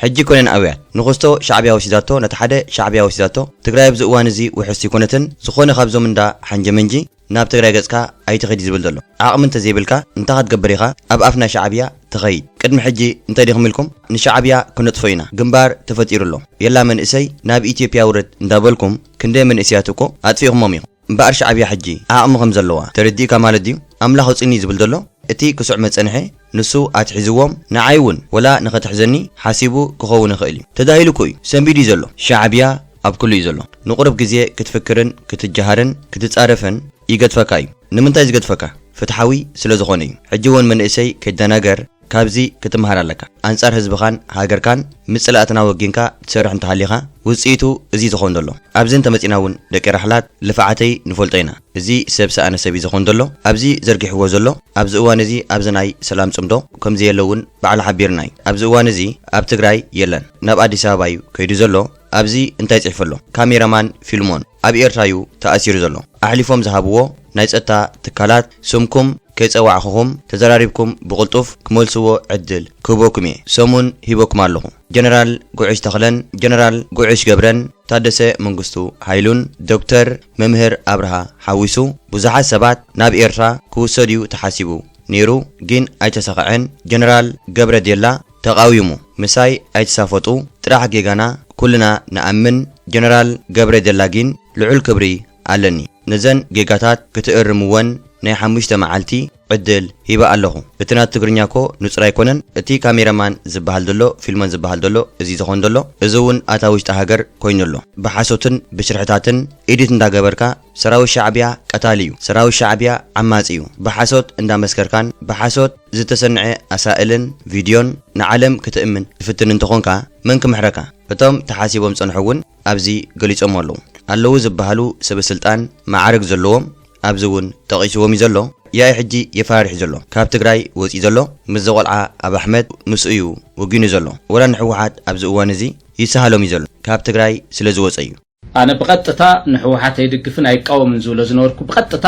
[SPEAKER 2] ሕጂ
[SPEAKER 1] ኮይነን ኣውያት። ንኹስቶ ሻዕብያ ወሲዳቶ ነቲ ሓደ ሻዕብያ ወሲዳቶ ትግራይ ኣብዚ እዋን እዚ ውሕስቲ ኣይኮነትን ዝኾነ ካብዞም እንዳ ሓንጀመንጂ ናብ ትግራይ ገጽካ ኣይትኺድ እዩ ዝብል ዘሎ ዓቕሚ እንተዘይብልካ እንታይ ክትገብር ኢኻ ኣብ ኣፍ ናይ ሻዕብያ ትኸይድ ቅድሚ ሕጂ እንታይ ዲኹም ኢልኩም ንሻዕብያ ክነጥፎ ኢና ግንባር ተፈጢሩ ኣሎ የላ መንእሰይ ናብ ኢትዮጵያ ውረድ እንዳበልኩም ክንደይ መንእሰያት እኮ ኣጥፊእኹሞም ኢኹም። እምበኣር ሻዕብያ ሕጂ ዓቕሚ ከም ዘለዋ ተረዲኡካ ማለት ድዩ? ኣምላኽ ኣውጽእኒ ዝብል ዘሎ እቲ ክሱዕ መጸንሒ ንሱ ኣትሒዝዎም ንዓይ እውን ወላ ንኸትሕዘኒ ሓሲቡ ክኸውን ይኽእል እዩ ተዳሂሉ እኮ እዩ ሰንቢዱ እዩ ዘሎ። ሻዕብያ ኣብ ኩሉ እዩ ዘሎ ንቁሩብ ግዜ ክትፍክርን ክትጀሃርን ክትጻረፍን ይገድፈካ እዩ ንምንታይ ዝገድፈካ ፍትሓዊ ስለ ዝኾነ እዩ ሕጂ እውን መንእሰይ ከይደናገር ካብዚ ክትምሃር ኣለካ ኣንጻር ህዝብካን ሃገርካን ምስ ጽላኣትና ወጊንካ ትሰርሕ እንተሃሊካ ውጽኢቱ እዚ እዩ ዝከውን ዘሎ ኣብዚ እንተመጺና እውን ደቂ ራሕላት ልፋዓተይ ንፈልጦ ኢና እዚ ሰብ ሰኣነ ሰብ እዩ ዝከውን ዘሎ ኣብዚ ዘርጊሕዎ ዘሎ ኣብዚ እዋን እዚ ኣብዚ ናይ ሰላም ጽምዶ ከምዘየለ እውን ባዕሉ ሓቢርና እዩ ኣብዚ እዋን እዚ ኣብ ትግራይ የለን ናብ ኣዲስ ኣበባ እዩ ከይዱ ዘሎ ኣብዚ እንታይ ጽሕፉ ኣሎ ካሜራ ማን ፊልሞን ኣብ ኤርትራ ዩ ተኣሲሩ ዘሎ ኣሕሊፎም ዝሃብዎ ናይ ጸጥታ ትካላት ስምኩም ከይጸዋዕኹኹም ተዘራሪብኩም ብቕልጡፍ ክመልስዎ ዕድል ክህበኩም እየ ሰሙን ሂበኩም ኣለኹ ጀነራል ጉዕሽ ተኽለን ጀነራል ጉዕሽ ገብረን ታደሰ መንግስቱ ሃይሉን ዶክተር መምህር ኣብርሃ ሓዊሱ ብዙሓት ሰባት ናብ ኤርትራ ክውሰዱ ዩ ተሓሲቡ ኔሩ ግን ኣይተሳኸዐን ጀነራል ገብረ ዴላ ተቃዊሙ ምሳይ ኣይትሳፈጡ ጥራሕ ጌጋና ኩልና ንኣምን ጀነራል ገብረ ጀላ ጊን ልዑል ክብሪ ኣለኒ ነዘን ጌጋታት ክትእርምወን ናይ ሓሙሽተ መዓልቲ ዕድል ሂበ ኣለኹ እቲ ናቱ ትግርኛ እኮ ንጹር ኣይኮነን እቲ ካሜራ ማን ዝብሃል ዘሎ ፊልሞን ዝብሃል ዘሎ እዚ ዝኾን ዘሎ እዚ ውን ኣታ ውሽጢ ሃገር ኮይኑ ኣሎ ብሓሶትን ብሽርሕታትን ኢዲት እንዳገበርካ ሰራዊት ሻዕቢያ ቀታሊ ዩ ሰራዊት ሻዕቢያ ዓማጺ ዩ ብሓሶት እንዳ መስከርካን ብሓሶት ዝተሰንዐ ኣሳእልን ቪድዮን ንዓለም ክትእምን ትፍትን እንተኾንካ መን ክምሕረካ እቶም ተሓሲቦም ዝጸንሑ ውን ኣብዚ ገሊጾሞ ኣለዉ ኣለዉ ዝብሃሉ ሰበስልጣን መዓርግ ዘለዎም ኣብዚ ውን ጠቂስዎም ዩ ዘሎ ያኢ ሕጂ የፈራርሕ ዘሎ ካብ ትግራይ ወጺኡ ዘሎ ምስዚ ቆልዓ ኣብ ኣሕመድ ምስኡ ዩ ወጊኑ ዘሎ ወላ ንሕወሓት ኣብዚ እዋን እዚ ይሰሃሎም ዩ ዘሎ ካብ ትግራይ ስለ ዝወጸ ዩ ኣነ ብቐጥታ
[SPEAKER 4] ንሕወሓት ኣይድግፍን ኣይቃወምን ዝብሎ ዝነበርኩ ብቐጥታ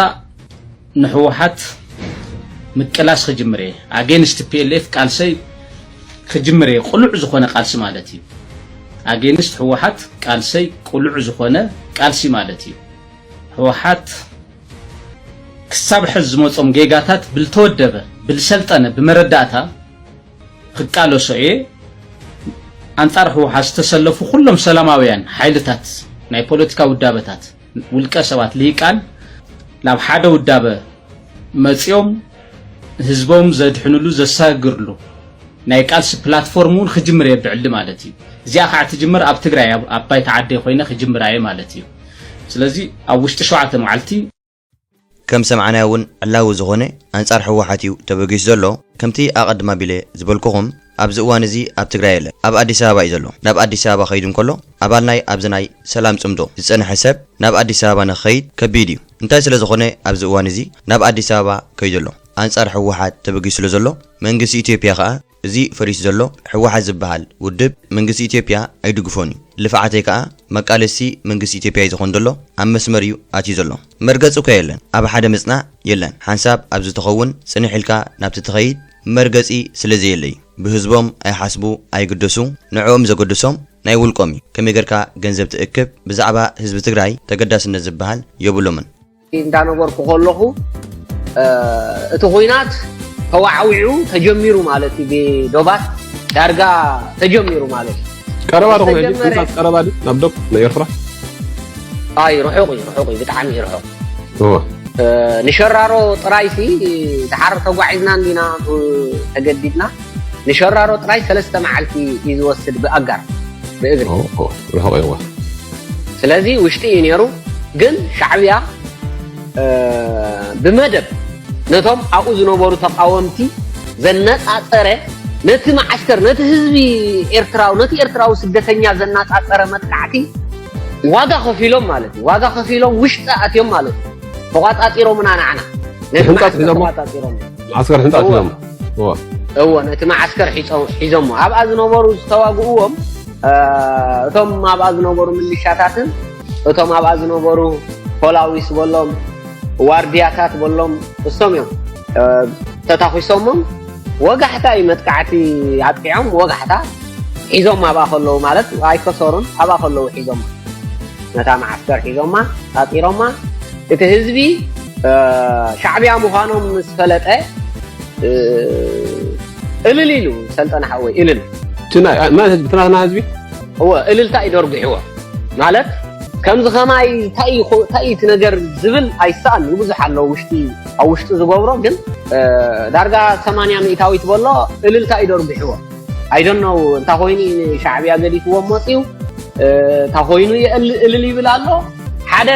[SPEAKER 4] ንሕወሓት ምቅላስ ክጅምር እየ ኣጌንስት ፒኤልኤፍ ቃልሰይ ክጅምር እየ ቅሉዕ ዝኾነ ቃልሲ ማለት እዩ ኣጌንስት ሕወሓት ቃልሰይ ቅሉዕ ዝኾነ ቃልሲ ማለት እዩ ሕወሓት ክሳብ ሕዝ ዝመጾም ጌጋታት ብልተወደበ ብልሰልጠነ ብመረዳእታ ክቃለሶ እየ ኣንጻር ህወሓት ዝተሰለፉ ኩሎም ሰላማውያን ሓይልታት ናይ ፖለቲካ ውዳበታት ውልቀ ሰባት ልሂቃን ናብ ሓደ ውዳበ መፂኦም ህዝቦም ዘድሕንሉ ዘሳግርሉ ናይ ቃልሲ ፕላትፎርም እውን ክጅምር እየ ብዕሊ ማለት እዩ እዚኣ ከዓ ትጅምር ኣብ ትግራይ ኣብ ባይታ ዓደይ ኮይነ ክጅምር እየ ማለት እዩ ስለዚ ኣብ ውሽጢ ሸውዓተ መዓልቲ ከም
[SPEAKER 1] ዝሰማዕናዮ ውን ዕላዊ ዝኾነ ኣንጻር ህወሓት እዩ ተበጊሱ ዘሎ። ከምቲ ኣቐድም ኣቢለ ዝበልኩኹም ኣብዚ እዋን እዚ ኣብ ትግራይ የለን። ኣብ ኣዲስ ኣበባ እዩ ዘሎ። ናብ ኣዲስ ኣበባ ከይዱ እንከሎ ኣባል ናይ ኣብዚ ናይ ሰላም ጽምዶ ዝጸንሐ ሰብ ናብ ኣዲስ ኣበባ ንክኸይድ ከቢድ እዩ። እንታይ ስለ ዝኾነ ኣብዚ እዋን እዚ ናብ ኣዲስ ኣበባ ከይዱ ኣሎ። ኣንጻር ህወሓት ተበጊሱ ስለ ዘሎ መንግስቲ ኢትዮጵያ ከኣ እዚ ፈሪሱ ዘሎ ሕወሓት ዝብሃል ውድብ መንግስቲ ኢትዮጵያ ኣይድግፎን እዩ ልፍዓተይ ከኣ መቃለስቲ መንግስቲ ኢትዮጵያ እዩ ዘኮን ዘሎ ኣብ መስመር እዩ ኣትዩ ዘሎ መርገጺ እኮ የለን ኣብ ሓደ ምጽናዕ የለን ሓንሳብ ኣብ ዝተከውን ጽንሕ ኢልካ ናብቲ ትከይድ መርገጺ ስለ ዘየለ እዩ ብህዝቦም ኣይሓስቡ ኣይግደሱ ንዕኦም ዘገድሶም ናይ ውልቆም እዩ ከመይ ገርካ ገንዘብ ትእክብ ብዛዕባ ህዝቢ ትግራይ ተገዳስነት ዝብሃል የብሎምን። እንዳነበርኩ
[SPEAKER 6] ከለኹ እቲ ኩናት ተዋዕዊዑ ተጀሚሩ ማለት እዩ ብዶባት ዳርጋ ተጀሚሩ ማለት እዩ ቀረባ ድኹም ሕጂ
[SPEAKER 2] ኩናት ቀረባ ድዩ ናብ ዶብ ንኤርትራ
[SPEAKER 6] ኣይ ርሑቕ እዩ ርሑቕ እዩ ብጣዕሚ እዩ ርሑቕ ንሸራሮ ጥራይሲ ድሓር ተጓዒዝና እንዲና ተገዲድና ንሸራሮ ጥራይ ሰለስተ መዓልቲ እዩ ዝወስድ ብኣጋር ብእግሪ ርሑቕ
[SPEAKER 2] እዋ ስለዚ
[SPEAKER 6] ውሽጢ እዩ ነይሩ ግን ሻዕብያ ብመደብ ነቶም ኣብኡ ዝነበሩ ተቃወምቲ ዘነፃፀረ ነቲ መዓስከር ነቲ ህዝቢ ኤርትራዊ ነቲ ኤርትራዊ ስደተኛ ዘነፃፀረ መጥቃዕቲ ዋጋ ከፊሎም ማለት እዩ ዋጋ ከፊሎም ውሽጢ ኣትዮም ማለት እዩ ተቋፃፂሮምና ናዕና ነቲ መዓስከር ተቋፃፂሮም
[SPEAKER 2] ዓስከር ሕንፃት እዮም እወ
[SPEAKER 6] ነቲ መዓስከር ሒዞሞ ኣብኣ ዝነበሩ ዝተዋግእዎም እቶም ኣብኣ ዝነበሩ ምልሻታትን እቶም ኣብኣ ዝነበሩ ፖላዊስ በሎም ዋርድያታት በሎም እሶም እዮም ተታኺሶሞም ወጋሕታ እዩ መጥቃዕቲ ኣጥቂዖም ወጋሕታ ሒዞም ኣብኣ ከለዉ ማለት ኣይከሰሩን ኣብኣ ከለዉ ሒዞም ነታ መዓስከር ሒዞማ ፃፂሮማ እቲ ህዝቢ ሻዕብያ ምዃኖም ምስ ፈለጠ እልል ኢሉ ሰልጠነ ሓወይ እልል መን ህዝቢ
[SPEAKER 2] ትናትና ህዝቢ እወ እልልታ
[SPEAKER 6] እዩ ደርጒሕዎ ማለት ከምዚ ከማይ እንታይ እቲ ነገር ዝብል ኣይሰኣን እዩ ብዙሕ ኣሎ ውሽጢ ኣብ ውሽጢ ዝገብሮ ግን ዳርጋ ሰማንያ ሚእታዊት በሎ እልልታ እዩ ደርጒሕዎ I don't know እንታይ ኮይኑ እዩ ንሻዕብያ ገዲፍዎም መፅዩ እንታይ ኮይኑ እዩ እልል ይብል ኣሎ ሓደ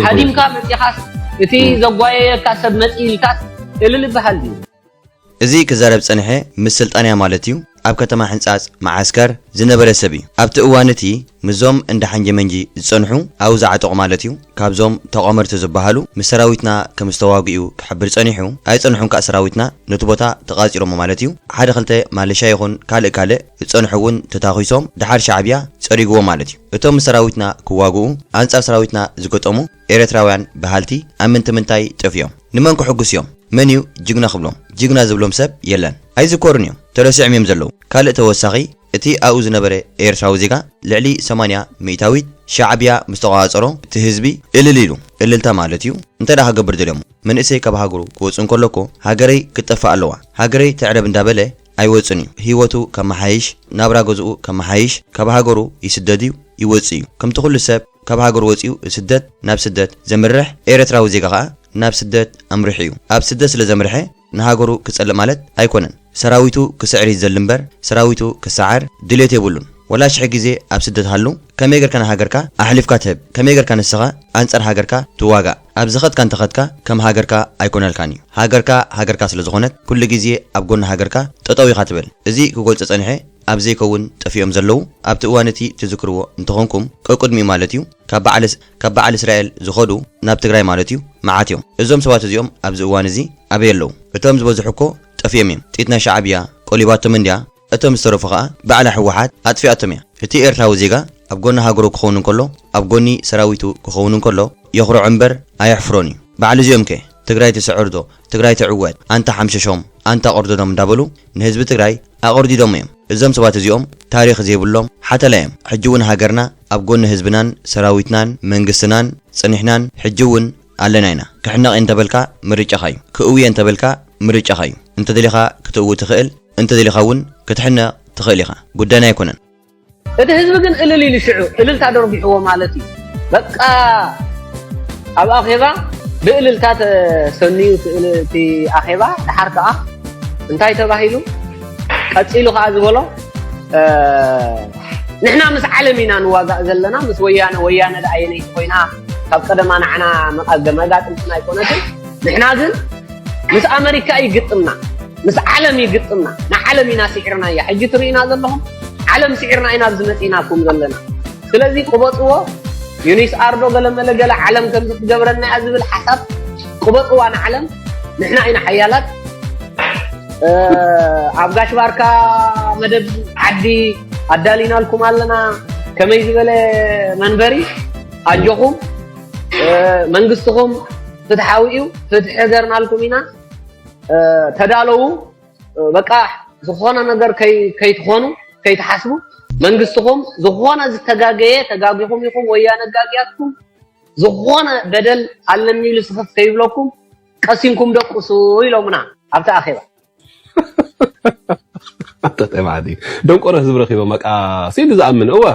[SPEAKER 6] ሃዲምካ መፂኻስ እቲ ዘጓየየካ ሰብ መፂ ኢልካስ እልል ይበሃል ድዩ እዚ
[SPEAKER 1] ክዛረብ ዝጸንሐ ምስ ስልጣን እያ ማለት እዩ ኣብ ከተማ ሕንጻጽ መዓስከር ዝነበረ ሰብ እዩ ኣብቲ እዋን እቲ ምስዞም እንዳ ሓንጀመንጂ ዝጸንሑ ኣብኡ ዝዓጠቑ ማለት እዩ ካብዞም ተቋመርቲ ዝባሃሉ ምስ ሰራዊትና ከም ዝተዋግኡ ክሕብር ጸኒሑ ኣይጸንሑን ካእ ሰራዊትና ነቲ ቦታ ተቃጺሮሞ ማለት እዩ ሓደ ክልተ ማለሻ ይኹን ካልእ ካልእ ዝጸንሑ ውን ተታኩሶም ድሓር ሻዕብያ ጸሪግዎም ማለት እዩ እቶም ምስ ሰራዊትና ክዋግኡ ኣንጻር ሰራዊትና ዝገጠሙ ኤረትራውያን ባሃልቲ ኣብ ምንቲ ምንታይ ጠፊኦም ንመን ክሕጉስ እዮም መን እዩ ጅግና ክብሎም ጅግና ዝብሎም ሰብ የለን ኣይዝኮሩን እዮም ተረሲዕም እዮም ዘለዉ ካልእ ተወሳኺ እቲ ኣብኡ ዝነበረ ኤርትራዊ ዜጋ ልዕሊ ሰማንያ ሚእታዊት ሻዕብያ ምስ ተቖጻጸሮ እቲ ህዝቢ እልል ኢሉ። እልልታ ማለት እዩ እንተድኣ ክገብር ደልዮሞ። መንእሰይ ካብ ሃገሩ ክወጽእ እንከሎ እኮ ሃገረይ ክትጠፍእ ኣለዋ፣ ሃገረይ ትዕረብ እንዳበለ ኣይወጽእን እዩ። ህይወቱ ከመሓይሽ፣ ናብራ ገዝኡ ከመሓይሽ ካብ ሃገሩ ይስደድ እዩ፣ ይወጽእ እዩ። ከምቲ ኩሉ ሰብ ካብ ሃገሩ ወጺኡ ስደት ናብ ስደት ዘምርሕ፣ ኤርትራዊ ዜጋ ከኣ ናብ ስደት ኣምሪሑ እዩ። ኣብ ስደት ስለ ዘምርሐ፣ ንሃገሩ ክጸልእ ማለት ኣይኮነን ሰራዊቱ ክስዕር ይዘሊ እምበር ሰራዊቱ ክሳዓር ድልየት የብሉን ወላ ሽሕ ግዜ ኣብ ስደት ሃሉ ከመይ ገርካ ንሃገርካ ኣሕሊፍካ ትህብ ከመይ ገርካ ንስኻ ኣንጻር ሃገርካ ትዋጋእ ኣብ ዝኸድካ እንተኸድካ ከም ሃገርካ ኣይኮነልካን እዩ ሃገርካ ሃገርካ ስለ ዝኾነት ኩሉ ግዜ ኣብ ጎኒ ሃገርካ ጠጠው ኢኻ ትብል እዚ ክገልጾ ጸኒሐ ኣብ ዘይከውን ጠፊኦም ዘለዉ ኣብቲ እዋን እቲ ትዝክርዎ እንተኾንኩም ቀቅድሚኡ ማለት እዩ ካብ በዓል ካብ በዓል እስራኤል ዝኸዱ ናብ ትግራይ ማለት እዩ መዓት እዮም እዞም ሰባት እዚኦም ኣብዚ እዋን እዚ ኣበይ ኣለው እቶም ዝበዝሑ እኮ ጠፊኦም እዮም ጢት ናይ ሻዓብያ ቆሊባቶም እንድያ እቶም ዝተረፉ ከኣ ባዕላ ህወሓት ኣጥፊኣቶም እያ እቲ ኤርትራዊ ዜጋ ኣብ ጎኒ ሃገሩ ክኸውን እንከሎ ኣብ ጎኒ ሰራዊቱ ክኸውን እንከሎ የኹርዖ እምበር ኣየሕፍሮን እዩ በዓል እዚኦም ከ ትግራይ ትስዕር ዶ ትግራይ ትዕወት ኣንታ ሓምሸሾም ኣንታ ቅርደዶም እንዳበሉ ንህዝቢ ትግራይ ኣቆርዲዶሞ እዮም እዞም ሰባት እዚኦም ታሪኽ ዘይብሎም ሓተላ እዮም ሕጂ እውን ሃገርና ኣብ ጎኒ ህዝብናን ሰራዊትናን መንግስትናን ፅኒሕናን ሕጂ እውን ኣለና ኢና ክሕነቕ እየ እንተበልካ ምርጫኻ እዩ ክእዊ እየ እንተበልካ ምርጫኻ እዩ እንተደሊኻ ክትእዊ ትኽእል እንተደሊኻ እውን ክትሕነቕ ትኽእል ኢኻ ጉዳይና ኣይኮነን እቲ ህዝቢ
[SPEAKER 6] ግን እልል ኢሉ ሽዑ እልልታ ደርቢሕዎ ማለት እዩ በቃ ኣብ ኣኼባ ብእልልታ ተሰንዩ እቲ ኣኼባ ድሓር ከዓ እንታይ ተባሂሉ ቀፂሉ ከዓ ዝበሎ ንሕና ምስ ዓለም ኢና ንዋጋእ ዘለና ምስ ወያነ ወያነ ደኣ የነይቲ ኮይና ካብ ቀደማ ንዓና መጋጥምትና ኣይኮነትን ንሕና ግን ምስ ኣመሪካ ይግጥምና ምስ ዓለም እዩ ግጥምና ንዓለም ኢና ስዒርናያ ሕጂ ትርእዩና ዘለኹም ዓለም ስዒርና ኢና ኣብዚ መጺእናኩም ዘለና ስለዚ ቅበጽዎ ዩኒስ ኣርዶ ገለመለ ገለ ዓለም ከምዚ ክትገብረና እያ ዝብል ሓሳብ ቅበጽዋ ንዓለም ንሕና ኢና ሓያላት ኣብ ጋሽ ባርካ መደብ ዓዲ ኣዳሊናልኩም ኣለና ከመይ ዝበለ መንበሪ ኣጆኹም መንግስትኹም ፍትሓዊ እዩ ፍትሒ ገርናልኩም ኢና ተዳለዉ በቃ ዝኾነ ነገር ከይትኾኑ ከይትሓስቡ መንግስትኹም ዝኾነ ዝተጋገየ ተጋጊኹም ኢኹም ወያነ ጋግያትኩም ዝኾነ በደል ኣለኒ ኢሉ ስኽፍ ከይብለኩም ቀሲንኩም ደቁሱ ኢሎምና ኣብቲ ኣኼባ
[SPEAKER 2] ኣንተ ጠማዕዲ ደንቆሮ ህዝቢ ረኺቦም በቃ ሲሉ ዝኣምን እወ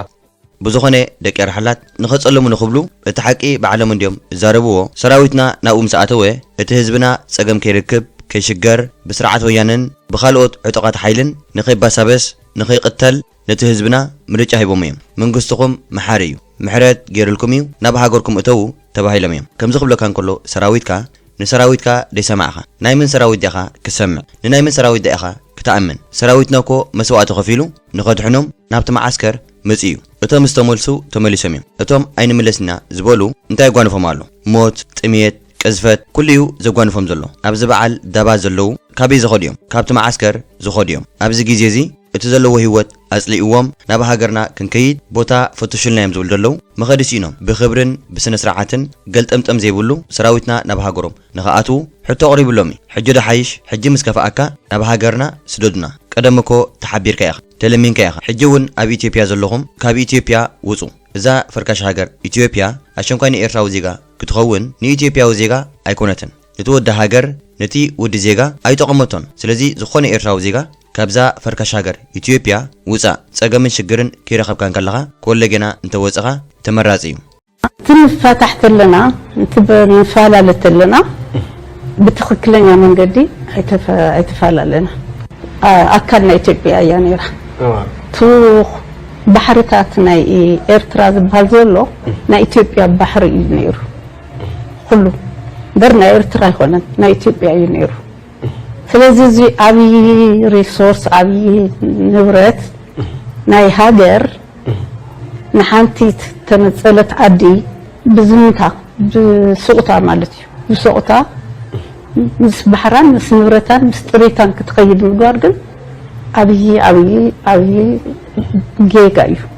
[SPEAKER 2] ብዝኾነ
[SPEAKER 1] ደቂ ኣርሓላት ንኸጸልሙኒ ክብሉ እቲ ሓቂ ባዕሎም እንድዮም ዝዛረብዎ ሰራዊትና ናብኡ ምስ ኣተወ እቲ ህዝብና ጸገም ከይርክብ ከይሽገር ብስርዓት ወያነን ብኻልኦት ዕጡቓት ሓይልን ንኸይባሳበስ ንኸይቕተል ነቲ ህዝብና ምርጫ ሂቦሞ እዮም መንግስትኹም መሓሪ እዩ ምሕረት ጌርልኩም እዩ ናብ ሃገርኩም እተዉ ተባሂሎም እዮም ከምዚ ክብለካ እንከሎ ሰራዊትካ ንሰራዊትካ ደይሰማዕካ ናይ መን ሰራዊት ዲኻ ክትሰምዕ ንናይ መን ሰራዊት ድኣ ኢኻ ክትኣምን ሰራዊትና እኮ መስዋእቲ ከፊሉ ንኸድሕኖም ናብቲ መዓስከር መጺኡ። እቶም ዝተመልሱ ተመሊሶም እዮም። እቶም ኣይንምለስን ኢና ዝበሉ እንታይ የጓንፎም ኣሎ? ሞት፣ ጥምየት፣ ቅዝፈት፣ ኩሉ እዩ ዘጓንፎም ዘሎ። ኣብዚ በዓል ዳባት ዘለዉ ካበይ ዝኸዱ እዮም? ካብቲ መዓስከር ዝኸዱ እዮም። ኣብዚ ግዜ እዚ እቲ ዘለዎ ህይወት ኣጽሊእዎም ናብ ሃገርና ክንከይድ ቦታ ፈቱሹልና እዮም ዝብሉ ዘለዉ። መኸዲ ስኢኖም ብኽብርን ብስነ-ስርዓትን ገልጠምጠም ዘይብሉ ሰራዊትና ናብ ሃገሮም ንክኣትዉ ሕቶ ኣቕሪብሎም እዩ ሕጂ ዶ ሓይሽ ሕጂ ምስ ከፍኣካ ናብ ሃገርና ስደዱና ቀደም እኮ ተሓቢርካ ኢኻ ተለሚንካ ኢኻ ሕጂ ውን ኣብ ኢትዮፕያ ዘለኹም ካብ ኢትዮፕያ ውጹ እዛ ፈርካሽ ሃገር ኢትዮፕያ ኣሸንኳይ ንኤርትራዊ ዜጋ ክትኸውን ንኢትዮፕያዊ ዜጋ ኣይኮነትን ንቲ ወዲ ሃገር ንቲ ወዲ ዜጋ ኣይጠቐመቶን ስለዚ ዝኾነ ኤርትራዊ ዜጋ ካብዛ ፈርካሽ ሃገር ኢትዮፕያ ውጻእ ጸገምን ሽግርን ከይረኸብካ እንከለኻ ኮለገና እንተወጸኻ ተመራጺ እዩ። ኣብቲ ንፋታሕ
[SPEAKER 7] ተለና እቲ ንፋላለ ተለና ብትኽክለኛ መንገዲ ኣይተፋላለና ኣካል ናይ ኢትዮጵያ እያ ነይራ እቱ ባሕርታት ናይ ኤርትራ ዝበሃል ዘሎ ናይ ኢትዮጵያ ባሕሪ እዩ ነይሩ ኩሉ እምበር ናይ ኤርትራ ኣይኮነን ናይ ኢትዮጵያ እዩ ነይሩ ስለዚ እዚ ዓብዪ ሪሶርስ ዓብዪ ንብረት ናይ ሃገር ንሓንቲ ዝተነፀለት ዓዲ ብዝምታ ብሱቕታ ማለት እዩ ብሱቕታ ምስ ባሕራን ምስ ንብረታን ምስ ጥሪታን ክትኸይድ ምግባር ግን ዓብዪ ዓብዪ ዓብዪ ጌጋ እዩ።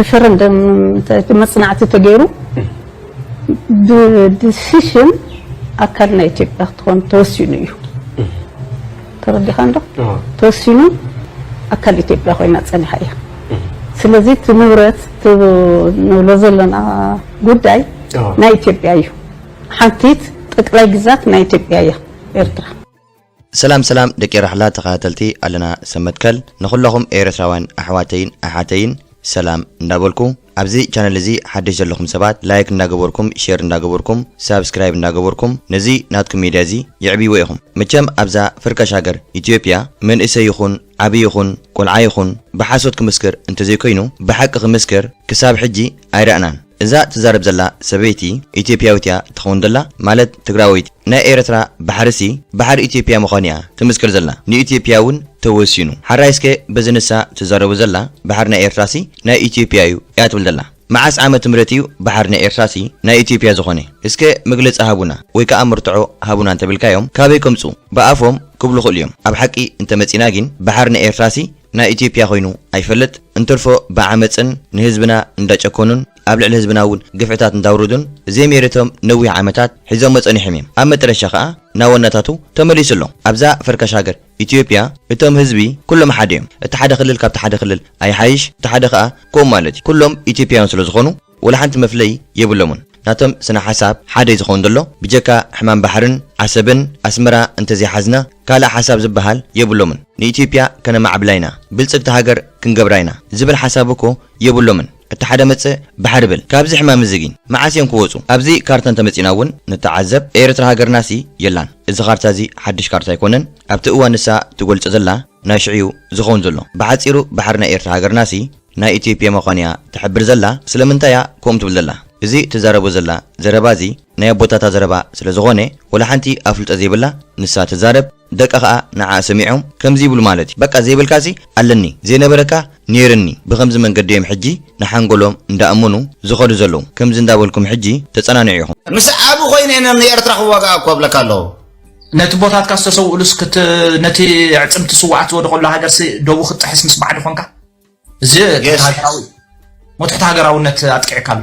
[SPEAKER 3] ሪፈረንደም
[SPEAKER 7] እቲ መፅናዕቲ ተገይሩ ብድስሽን ኣካል ናይ ኢትዮጵያ ክትኾን ተወሲኑ እዩ ተረዲኻ እንዶ ተወሲኑ ኣካል ኢትዮጵያ ኮይና ፀኒሓ እያ ስለዚ እቲ ንብረት ንብሎ ዘለና ጉዳይ ናይ ኢትዮጵያ እዩ። ሓንቲት ጠቅላይ ግዛት ናይ ኢትዮጵያ እያ ኤርትራ። ሰላም
[SPEAKER 1] ሰላም ደቂ ራሕላ ተኻታተልቲ ኣለና ሰብ መትከል ንኹለኹም ኤረትራውያን ኣሕዋተይን ኣሓተይን ሰላም እንዳበልኩ ኣብዚ ቻነል እዚ ሓድሽ ዘለኹም ሰባት ላይክ እንዳገበርኩም ሼር እንዳገበርኩም ሳብስክራይብ እንዳገበርኩም ነዚ ናትኩም ሜድያ እዚ የዕብይዎ ኢኹም መቸም ኣብዛ ፍርካሽ ሃገር ኢትዮጵያ መንእሰይ ይኹን ዓቢ ይኹን ቆልዓ ይኹን ብሓሶት ክምስክር እንተዘይኮይኑ ብሓቂ ክምስክር ክሳብ ሕጂ ኣይረኣናን እዛ ትዛረብ ዘላ ሰበይቲ ኢትዮፕያዊት እያ ትኸውን ዘላ ማለት ትግራወይቲ ናይ ኤረትራ ባሕሪ ሲ ባሕሪ ኢትዮፕያ ምዃኑ እያ ትምስክር ዘላ ንኢትዮፕያ ውን ተወሲኑ ሓራይ እስከ በዚ ንሳ ትዛረቦ ዘላ ባሕሪ ናይ ኤርትራ ሲ ናይ ኢትዮፕያ እዩ እያ ትብል ዘላ መዓስ ዓመት ምህረት እዩ ባሕር ናይ ኤርትራሲ ናይ ኢትዮፕያ ዝኾነ እስከ መግለጺ ሃቡና ወይ ከኣ መርትዖ ሃቡና እንተብልካዮም ካበይ ከምጹ ብኣፎም ክብሉ ክእሉ እዮም ኣብ ሓቂ እንተመጺና ጊን ባሕር ናይ ኤርትራሲ ናይ ኢትዮፕያ ኮይኑ ኣይፈልጥ እንትርፎ ብዓመጽን ንህዝብና እንዳጨኮኑን ኣብ ልዕሊ ህዝብና ውን ግፍዕታት እንዳውርዱን ዘይሜረቶም ነዊሕ ዓመታት ሒዞሞ ጸኒሖም እዮም ኣብ መጠረሻ ከኣ ናወናታቱ ተመሊሱ ኣሎ ኣብዛ ፈርካሽ ሃገር ኢትዮጵያ እቶም ህዝቢ ኩሎም ሓደ እዮም እቲ ሓደ ክልል ካብቲ ሓደ ክልል ኣይሓይሽ እቲ ሓደ ከኣ ከምኡ ማለት እዩ ኩሎም ኢትዮጵያውያን ስለ ዝኾኑ ወላ ሓንቲ መፍለዪ የብሎሙን ናቶም ስነ ሓሳብ ሓደ እዩ ዝኸውን ዘሎ ብጀካ ሕማም ባሕርን ዓሰብን ኣስመራ እንተዘይሓዝና ካልእ ሓሳብ ዝበሃል የብሎምን ንኢትዮጵያ ከነማዕብላ ኢና ብልጽግቲ ሃገር ክንገብራ ኢና ዝብል ሓሳብ እኮ የብሎምን እቲ ሓደ መጽእ ባሕሪ ብል ካብዚ ሕማም እዚ ጊን መዓስ እዮም ክወጹ ኣብዚ ካርታ እንተ መጺና ውን ንተዓዘብ ኤርትራ ሃገርና ሲ የላን እዚ ካርታ እዚ ሓድሽ ካርታ ኣይኮነን ኣብቲ እዋን ንሳ ትገልጾ ዘላ ናይ ሽዑ እዩ ዝኸውን ዘሎ ብሓጺሩ ባሕሪ ናይ ኤርትራ ሃገርና ሲ ናይ ኢትዮጵያ መዃን እያ ትሕብር ዘላ ስለምንታይ እያ ከምኡ ትብል ዘላ እዚ ትዛረቦ ዘላ ዘረባ እዚ ናይ ኣቦታታ ዘረባ ስለ ዝኾነ ወላ ሓንቲ ኣፍልጦ ዘይብላ ንሳ ትዛረብ ደቃ ከኣ ንዓኣ ሰሚዖም ከምዚ ይብሉ ማለት እዩ በቃ ዘይብልካሲ ኣለኒ ዘይነበረካ ኔርኒ ብከምዚ መንገዲ እዮም ሕጂ ንሓንጎሎም እንዳኣመኑ ዝከዱ ዘለዉ ከምዚ እንዳበልኩም ሕጂ ተጸናንዑ ኢኩም። ምስ ኣቢ ኮይነ
[SPEAKER 8] እየ ንኤርትራ ክዋጋኣ እኮ እብለካ ኣለኩ። ነቲ ቦታትካ
[SPEAKER 9] ዝተሰውእሉስ ክት ነቲ ኣዕጽምቲ ስውኣት ዝወደቀሉ ሃገርሲ ዶቡ ክትጥሕስ ምስ ባዕዲ ኮንካ እዚ ትሕቲ Yes። ሃገራዊ ሞትሕቲ ሃገራውነት ኣጥቂዕካ ኣሎ።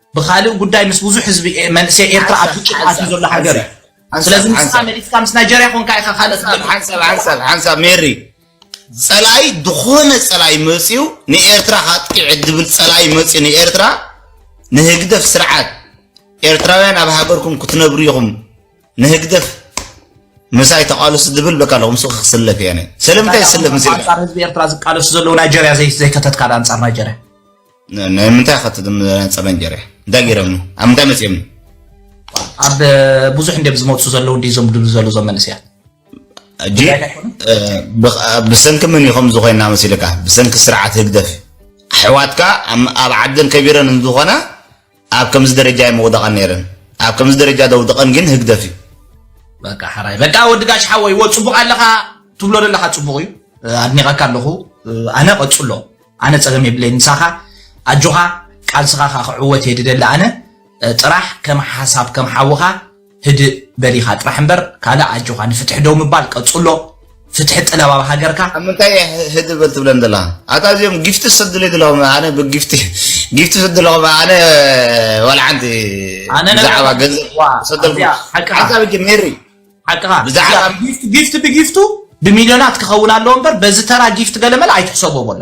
[SPEAKER 9] ብኻልእ ጉዳይ ምስ ብዙሕ ህዝቢ መንእሰይ ኤርትራ ኣብ ግጭት ኣትዩ ዘሎ ሃገር እዩ ስለዚ ምስካ መሊስካ ምስ ናይጀርያ ኮንካ ኢኻ ካልእ ሓንሳብ ሓንሳብ ሓንሳብ
[SPEAKER 8] ሜሪ ጸላይ ዝኾነ ጸላይ መጽዩ ንኤርትራ ካጥቂዕ ዝብል ጸላይ መጽዩ ንኤርትራ ንህግደፍ ስርዓት ኤርትራውያን ኣብ ሃገርኩም ክትነብሩ ኢኹም ንህግደፍ ምሳይ ተቃለሱ ዝብል በቃ ኣለኹም ሱቅ ክስለፍ እየ ስለምንታይ ዝስለፍ ምስ ኣንጻር ህዝቢ ኤርትራ ዝቃለሱ
[SPEAKER 9] ዘለዉ ናይጀርያ ዘይከተትካ ኣንጻር ናይጀርያ ናይ
[SPEAKER 8] ምንታይ ከ ተነጸረ እንጀራ እንታይ ገይረምኒ ኣብ ምንታይ መጺኦምኒ
[SPEAKER 9] ኣብ ብዙሕ እንደ ዝመልሱ ዘለዉ እንዲ ዞም ድሉ ዘለዉ ዞም መንእሰያት ሕጂ
[SPEAKER 8] ብሰንኪ ምን ኢኹም ዝኾይና መሲልካ ብሰንኪ ስርዓት ህግደፍ ኣሕዋትካ ኣብ ዓደን ከቢረን እንዝኾና ኣብ ከምዚ ደረጃ ኣይምውደቐን ነይረን ኣብ ከምዚ ደረጃ ዘውደቐን ግን ህግደፍ እዩ። በቃ
[SPEAKER 9] ሐራይ በቃ ወዲ ጋሽ ሓወይ ወ ጽቡቕ ኣለኻ ትብሎ ዘለኻ ጽቡቕ እዩ ኣድኒቐካ ኣለኹ ኣነ ቀጽሎ ኣነ ጸገም የብለይ ምሳኻ ኣጆኻ ቃልስኻ ካ ክዕወት እየ ድደሊ ኣነ ጥራሕ ከም ሓሳብ ከም ሓውኻ ህድእ በል ኢኻ ጥራሕ እምበር ካልእ ኣጆኻ ንፍትሒ ደው ምባል ቀጽሎ ፍትሒ ጥለብ ኣብ ሃገርካ። ኣብ ምንታይ እያ ህድእ
[SPEAKER 8] በል ትብለን ዘላ ኣታ እዚኦም ጊፍቲ ሰድለይ ዘለኹም ኣነ ብጊፍቲ ጊፍቲ ሰድለኹም ኣነ ዋልዓንቲ ኣነ ነገር ብዛዕባ ኣታ-
[SPEAKER 9] ገንዘብ
[SPEAKER 8] ዋ፣ ሰደልኩም ኣዚያ ሓቅኻ። ሓንታ ብጅ ሜሪ ሓቅኻ ብዛዕባ-
[SPEAKER 9] ጊፍት
[SPEAKER 8] ጊፍት ብጊፍቱ
[SPEAKER 9] ብሚልዮናት ክኸውን ኣለዎ እምበር በዚ ተራ ጊፍት ገለመለ ኣይትሕሰቦ በሎ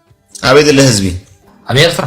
[SPEAKER 9] ኣበይ ዘሎ
[SPEAKER 8] ህዝቢ? ኣብ ኤርትራ።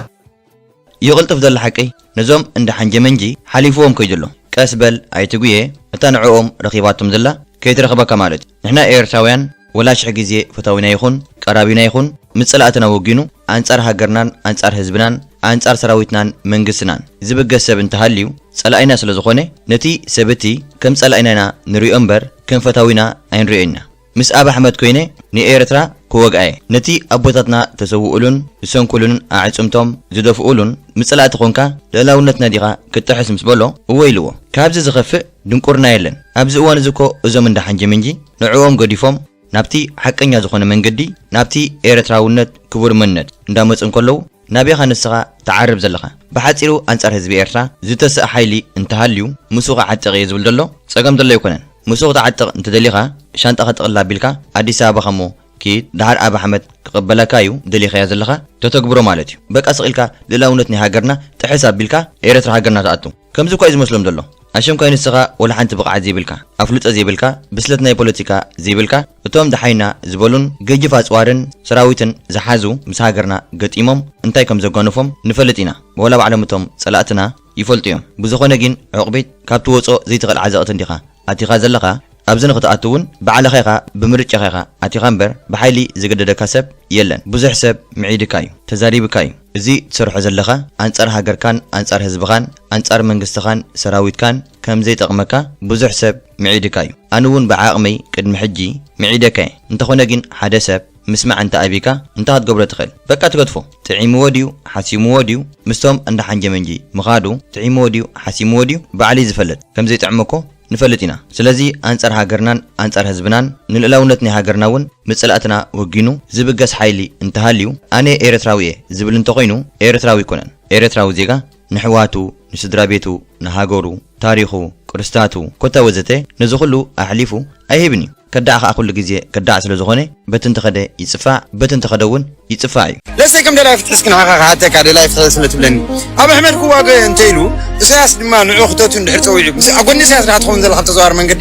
[SPEAKER 9] እዩ ቅልጥፍ
[SPEAKER 1] ዘሎ ሓቂ ነዞም እንዳ ሓንጀመንጂ ሓሊፍዎም ከይዱ ኣሎ ቀስ በል ኣይተ ጉየ እታ ንዕኦም ረኺባቶም ዘላ ከይትረኽበካ ማለት እዩ ንሕና ኤርትራውያን ወላ ሽሕ ግዜ ፈታዊና ይኹን ቀራቢና ይኹን ምስ ጸላእትና ወጊኑ ኣንጻር ሃገርናን ኣንጻር ህዝብናን ኣንጻር ሰራዊትናን መንግስትናን ዝብገስ ሰብ እንተሃልዩ ጸላኢና ስለዝኾነ ነቲ ሰብ እቲ ከም ጸላኢና ኢና ንሪኦ እምበር ከም ፈታዊና ኣይንሪኦን ኢና ምስ ኣብ ኣሕመድ ኮይነ ንኤርትራ ክወግኣየ ነቲ ኣቦታትና ተሰውኡሉን ዝሰንኩሉን ኣዕጽምቶም ዝደፍኡሉን ምጽላእቲ ኮንካ ልእላውነትና ዲኻ ክትጥሕስ ምስ በሎ እወ ኢልዎ ካብዚ ዝኸፍእ ድንቁርና የለን ኣብዚ እዋን እዚ እኮ እዞም እንዳ ሓንጂምንጂ ንዕኦም ገዲፎም ናብቲ ሓቀኛ ዝኾነ መንገዲ ናብቲ ኤርትራውነት ክቡር መንነት እንዳመጹ እንከለዉ ናበይ ኢኻ ንስኻ ትዓርብ ዘለኻ? ብሓጺሩ ኣንጻር ህዝቢ ኤርትራ ዝተሰእ ሓይሊ እንተሃልዩ ምስኡ ክዓጥቕ እየ ዝብል ዘሎ ጸገም ዘሎ ኣይኮነን። ምስኡ ክትዓጥቕ እንተደሊኻ ሻንጣኻ ጥቕልል ኣቢልካ ኣዲስ ኣበባኻ እሞ ኪድ ደሓር ኣቢ ኣሕመድ ክቕበለካ እዩ ደሊኻዮ ዘለኻ ተተግብሮ ማለት እዩ። በቃ ስቕ ኢልካ ልእላውነት ናይ ሃገርና ጥሕስ ኣቢልካ ኤረትራ ሃገርና ትኣቱ። ከምዚ እኳ እዩ ዝመስሎም ዘሎ። ኣሸንኳይ ንስኻ ወላ ሓንቲ ብቕዓት ዘይብልካ፣ ኣፍልጦ ዘይብልካ፣ ብስለት ናይ ፖለቲካ ዘይብልካ፣ እቶም ደሓይና ዝበሉን ገጅፍ ኣጽዋርን ሰራዊትን ዝሓዙ ምስ ሃገርና ገጢሞም እንታይ ከም ዘጓንፎም ንፈልጥ ኢና ወላ ባዕሎም እቶም ጸላእትና ይፈልጡ እዮም ብዝኾነ ጊን ዑቕቢት ካብ ትወጾ ዘይትኽእል ዓዘቕቲ እንዲኻ ኣቲኻ ዘለኻ ኣብዚ ንኽትኣቱ ውን ባዕልኻ ኢኻ ብምርጫኻ ኢኻ ኣቲኻ እምበር ብሓይሊ ዝገደደካ ሰብ የለን ብዙሕ ሰብ ምዒድካ እዩ ተዛሪብካ እዩ እዚ ትሰርሖ ዘለኻ ኣንጻር ሃገርካን ኣንጻር ህዝብኻን ኣንጻር መንግስትኻን ሰራዊትካን ከምዘይጠቕመካ ብዙሕ ሰብ ምዒድካ እዩ ኣነ ውን ብዓቅመይ ቅድሚ ሕጂ ምዒደካ እየ እንተኮነ ግን ሓደ ሰብ ምስማዕ እንተ ኣቢካ እንታይ ክትገብሮ ትክእል በቃ ትገድፎ ጥዒምዎ ድዩ ሓሲምዎ ድዩ ምስቶም እንዳ ሓንጀመንጂ ምካዱ ጥዒምዎ ድዩ ሓሲምዎ ድዩ ባዕልዩ ዝፈልጥ ከምዘይጥዕሞ እኮ ንፈልጥ ኢና ስለዚ ኣንጻር ሃገርናን ኣንጻር ህዝብናን ንልእላውነት ናይ ሃገርና ውን ምስ ጸላእትና ወጊኑ ዝብገስ ሓይሊ እንተሃልዩ ኣነ ኤረትራዊ እየ ዝብል እንተኮይኑ ኤረትራዊ ኣይኮነን ኤረትራዊ ዜጋ ንሕዋቱ ንስድራ ቤቱ ንሃገሩ ታሪኹ ቅርስታቱ ኮታ ወዘተ ነዚ ኩሉ ኣሕሊፉ ኣይህብን እዩ ከዳዕ ከኣ ኩሉ ግዜ ከዳዕ ስለ ዝኾነ በቲ እንተኸደ ይጽፋዕ በቲ እንተኸደ ውን ይጽፋዕ እዩ። ለሰይ ከም ደላይ ፍትሒ
[SPEAKER 10] እስኪ ንዓኻ ክሓተካ ደላይ ፍትሒ ስለ ትብለኒ ኣብይ ኣሕመድ ክዋገ እንተ ኢሉ እሰያስ ድማ ንዑ ክተቱ እንድሕር ጸዊዑ ኣብ ጎኒ እሰያስ ድኻ ትኸውን ዘለኻ ብተዘዋዋሪ መንገዲ?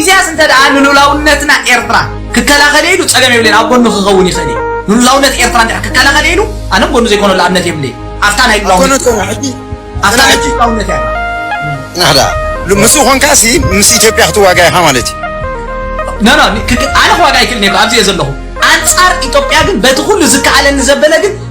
[SPEAKER 9] ኢሳያስ እንተ ደኣ ንሉላውነትና ኤርትራ ክከላኸል ኢሉ ጸገም የብለይን ኣብ ጎኑ ክኸውን ይኽእል እዩ ንሉላውነት ኤርትራ እንድሕር ክከላኸል ኢሉ ኣነ ጎኑ ዘይኮነሉ ኣብነት የብለይን ኣብታ ናይ ሉላውነት
[SPEAKER 10] ኣብታ ናይ ሉላውነት እያ ናህዳ ምስኡ ኮንካሲ ምስ ኢትዮጵያ ክትዋጋ ኢኻ ማለት እዩ ኖ
[SPEAKER 9] ኖ ኣነ ክዋጋ ኣይክእልን እየ ኣብዚ እየ ዘለኹ ኣንጻር ኢትዮጵያ ግን በቲ ኩሉ ዝከኣለኒ ዘበለ ግን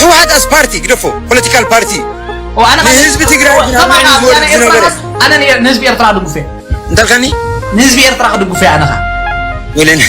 [SPEAKER 10] ህወሓት ኣስ ፓርቲ ግደፎ ፖለቲካል ፓርቲ ንህዝቢ
[SPEAKER 9] ትግራይ
[SPEAKER 10] ከማኻ ወያነ ኤርትራ
[SPEAKER 9] ኣነ ንህዝቢ ኤርትራ ድጉፈ እንታይ ኢልካኒ
[SPEAKER 10] ንህዝቢ ኤርትራ
[SPEAKER 9] ክድጉፈ ኣነ ኸ
[SPEAKER 10] ወለን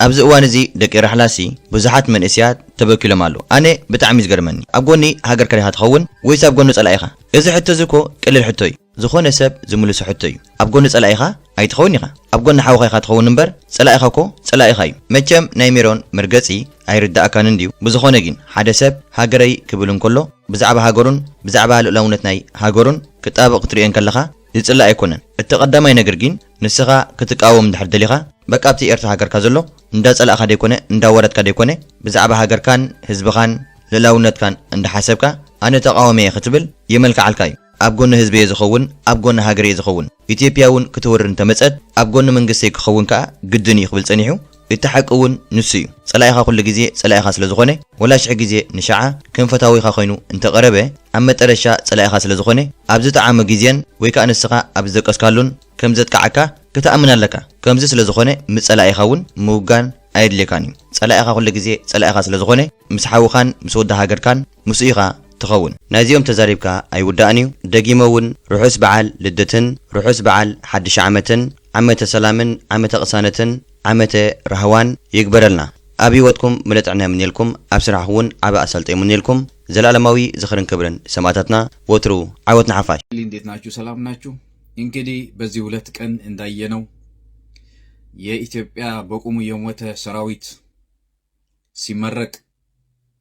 [SPEAKER 1] ኣብዚ እዋን እዚ ደቂ ራሕላሲ ብዙሓት መንእስያት ተበኪሎም ኣለዉ ኣነ ብጣዕሚ ዝገርመኒ ኣብ ጎኒ ሃገርካ ዲኻ ትኸውን ወይስ ኣብ ጎኒ ጸላኢኻ እዚ ሕቶ እዚ እኮ ቀሊል ሕቶ እዩ ዝኾነ ሰብ ዝምልሶ ሕቶ እዩ ኣብ ጎኒ ጸላኢኻ ኣይትኸውን ኢኻ ኣብ ጎኒ ሓውኻ ኢኻ ትኸውን እምበር ጸላኢኻ እኮ ጸላኢኻ እዩ መቸም ናይ ሜሮን መርገጺ ኣይርደኣካን እንድዩ ብዝኾነ ጊን ሓደ ሰብ ሃገረይ ክብል እንኮሎ ብዛዕባ ሃገሩን ብዛዕባ ልኡላውነት ናይ ሃገሩን ክጣበቕ ክትርእዮ እንከለኻ ዝጽላእ ኣይኮነን እቲ ቀዳማይ ነግር ጊን ንስኻ ክትቃወም እንድሕር ደሊኻ በቃ ኣብቲ ኤርትራ ሃገርካ ዘሎ እንዳጸላእካ ደይኮነ እንዳዋረድካ ደይኮነ ብዛዕባ ሃገርካን ህዝብኻን ልእላውነትካን እንዳ ሓሰብካ ኣነ ተቓዋሚ እየ ክትብል የመልክዓልካ እዩ ኣብ ጎኒ ህዝቢ'የ ዝኸውን፣ ኣብ ጎኒ ሃገር'የ ዝኸውን፣ ኢትዮጵያ'ውን ክትወርር እንተመጸት ኣብ ጎኒ መንግስተይ ክኸውን ከኣ ግድን'ዩ ክብል ጸኒሑ፣ እቲ ሓቂ'ውን ንሱ'ዩ። ጸላኢኻ ኩሉ ግዜ ጸላኢኻ ስለ ዝኾነ፣ ወላ ሽሕ ግዜ ንሸዓ ከም ፈታዊኻ ኮይኑ እንተቐረበ፣ ኣብ መጠረሻ ጸላኢኻ ስለ ዝኾነ፣ ኣብ ዝጠዓሞ ግዜን ወይ ከኣ ንስኻ ኣብ ዝደቀስካሉን ከም ዘጥቅዓካ ክትኣምን ኣለካ። ከምዚ ስለ ዝኾነ ምስ ጸላኢኻ'ውን ምውጋን ኣየድልየካን'ዩ። ጸላኢኻ ኩሉ ግዜ ጸላኢኻ ስለ ዝኾነ፣ ምስ ሓውኻን ምስ ወዲ ሃገርካን፣ ምስኡ ኢኻ ትኸውን ናይዚኦም ተዛሪብካ ኣይውዳእን እዩ ደጊመ ውን ርሑስ በዓል ልደትን ርሑስ በዓል ሓድሽ ዓመትን ዓመተ ሰላምን ዓመተ ቅሳነትን ዓመተ ራህዋን ይግበረልና ኣብ ሂወትኩም ምለ ጥዕና ይምንየልኩም ኣብ ስራሕኹ ውን ዓቢ ኣሳልጦ ይምንየልኩም ዘላኣለማዊ ዝኽርን ክብርን ሰማእታትና ወትሩ ዓወት ንሓፋሽ። ሊ እንዴት ናችሁ ሰላም
[SPEAKER 11] ናችሁ እንግዲ በዚ ሁለት ቀን እንዳየነው የኢትዮጵያ በቁሙ የሞተ ሰራዊት ሲመረቅ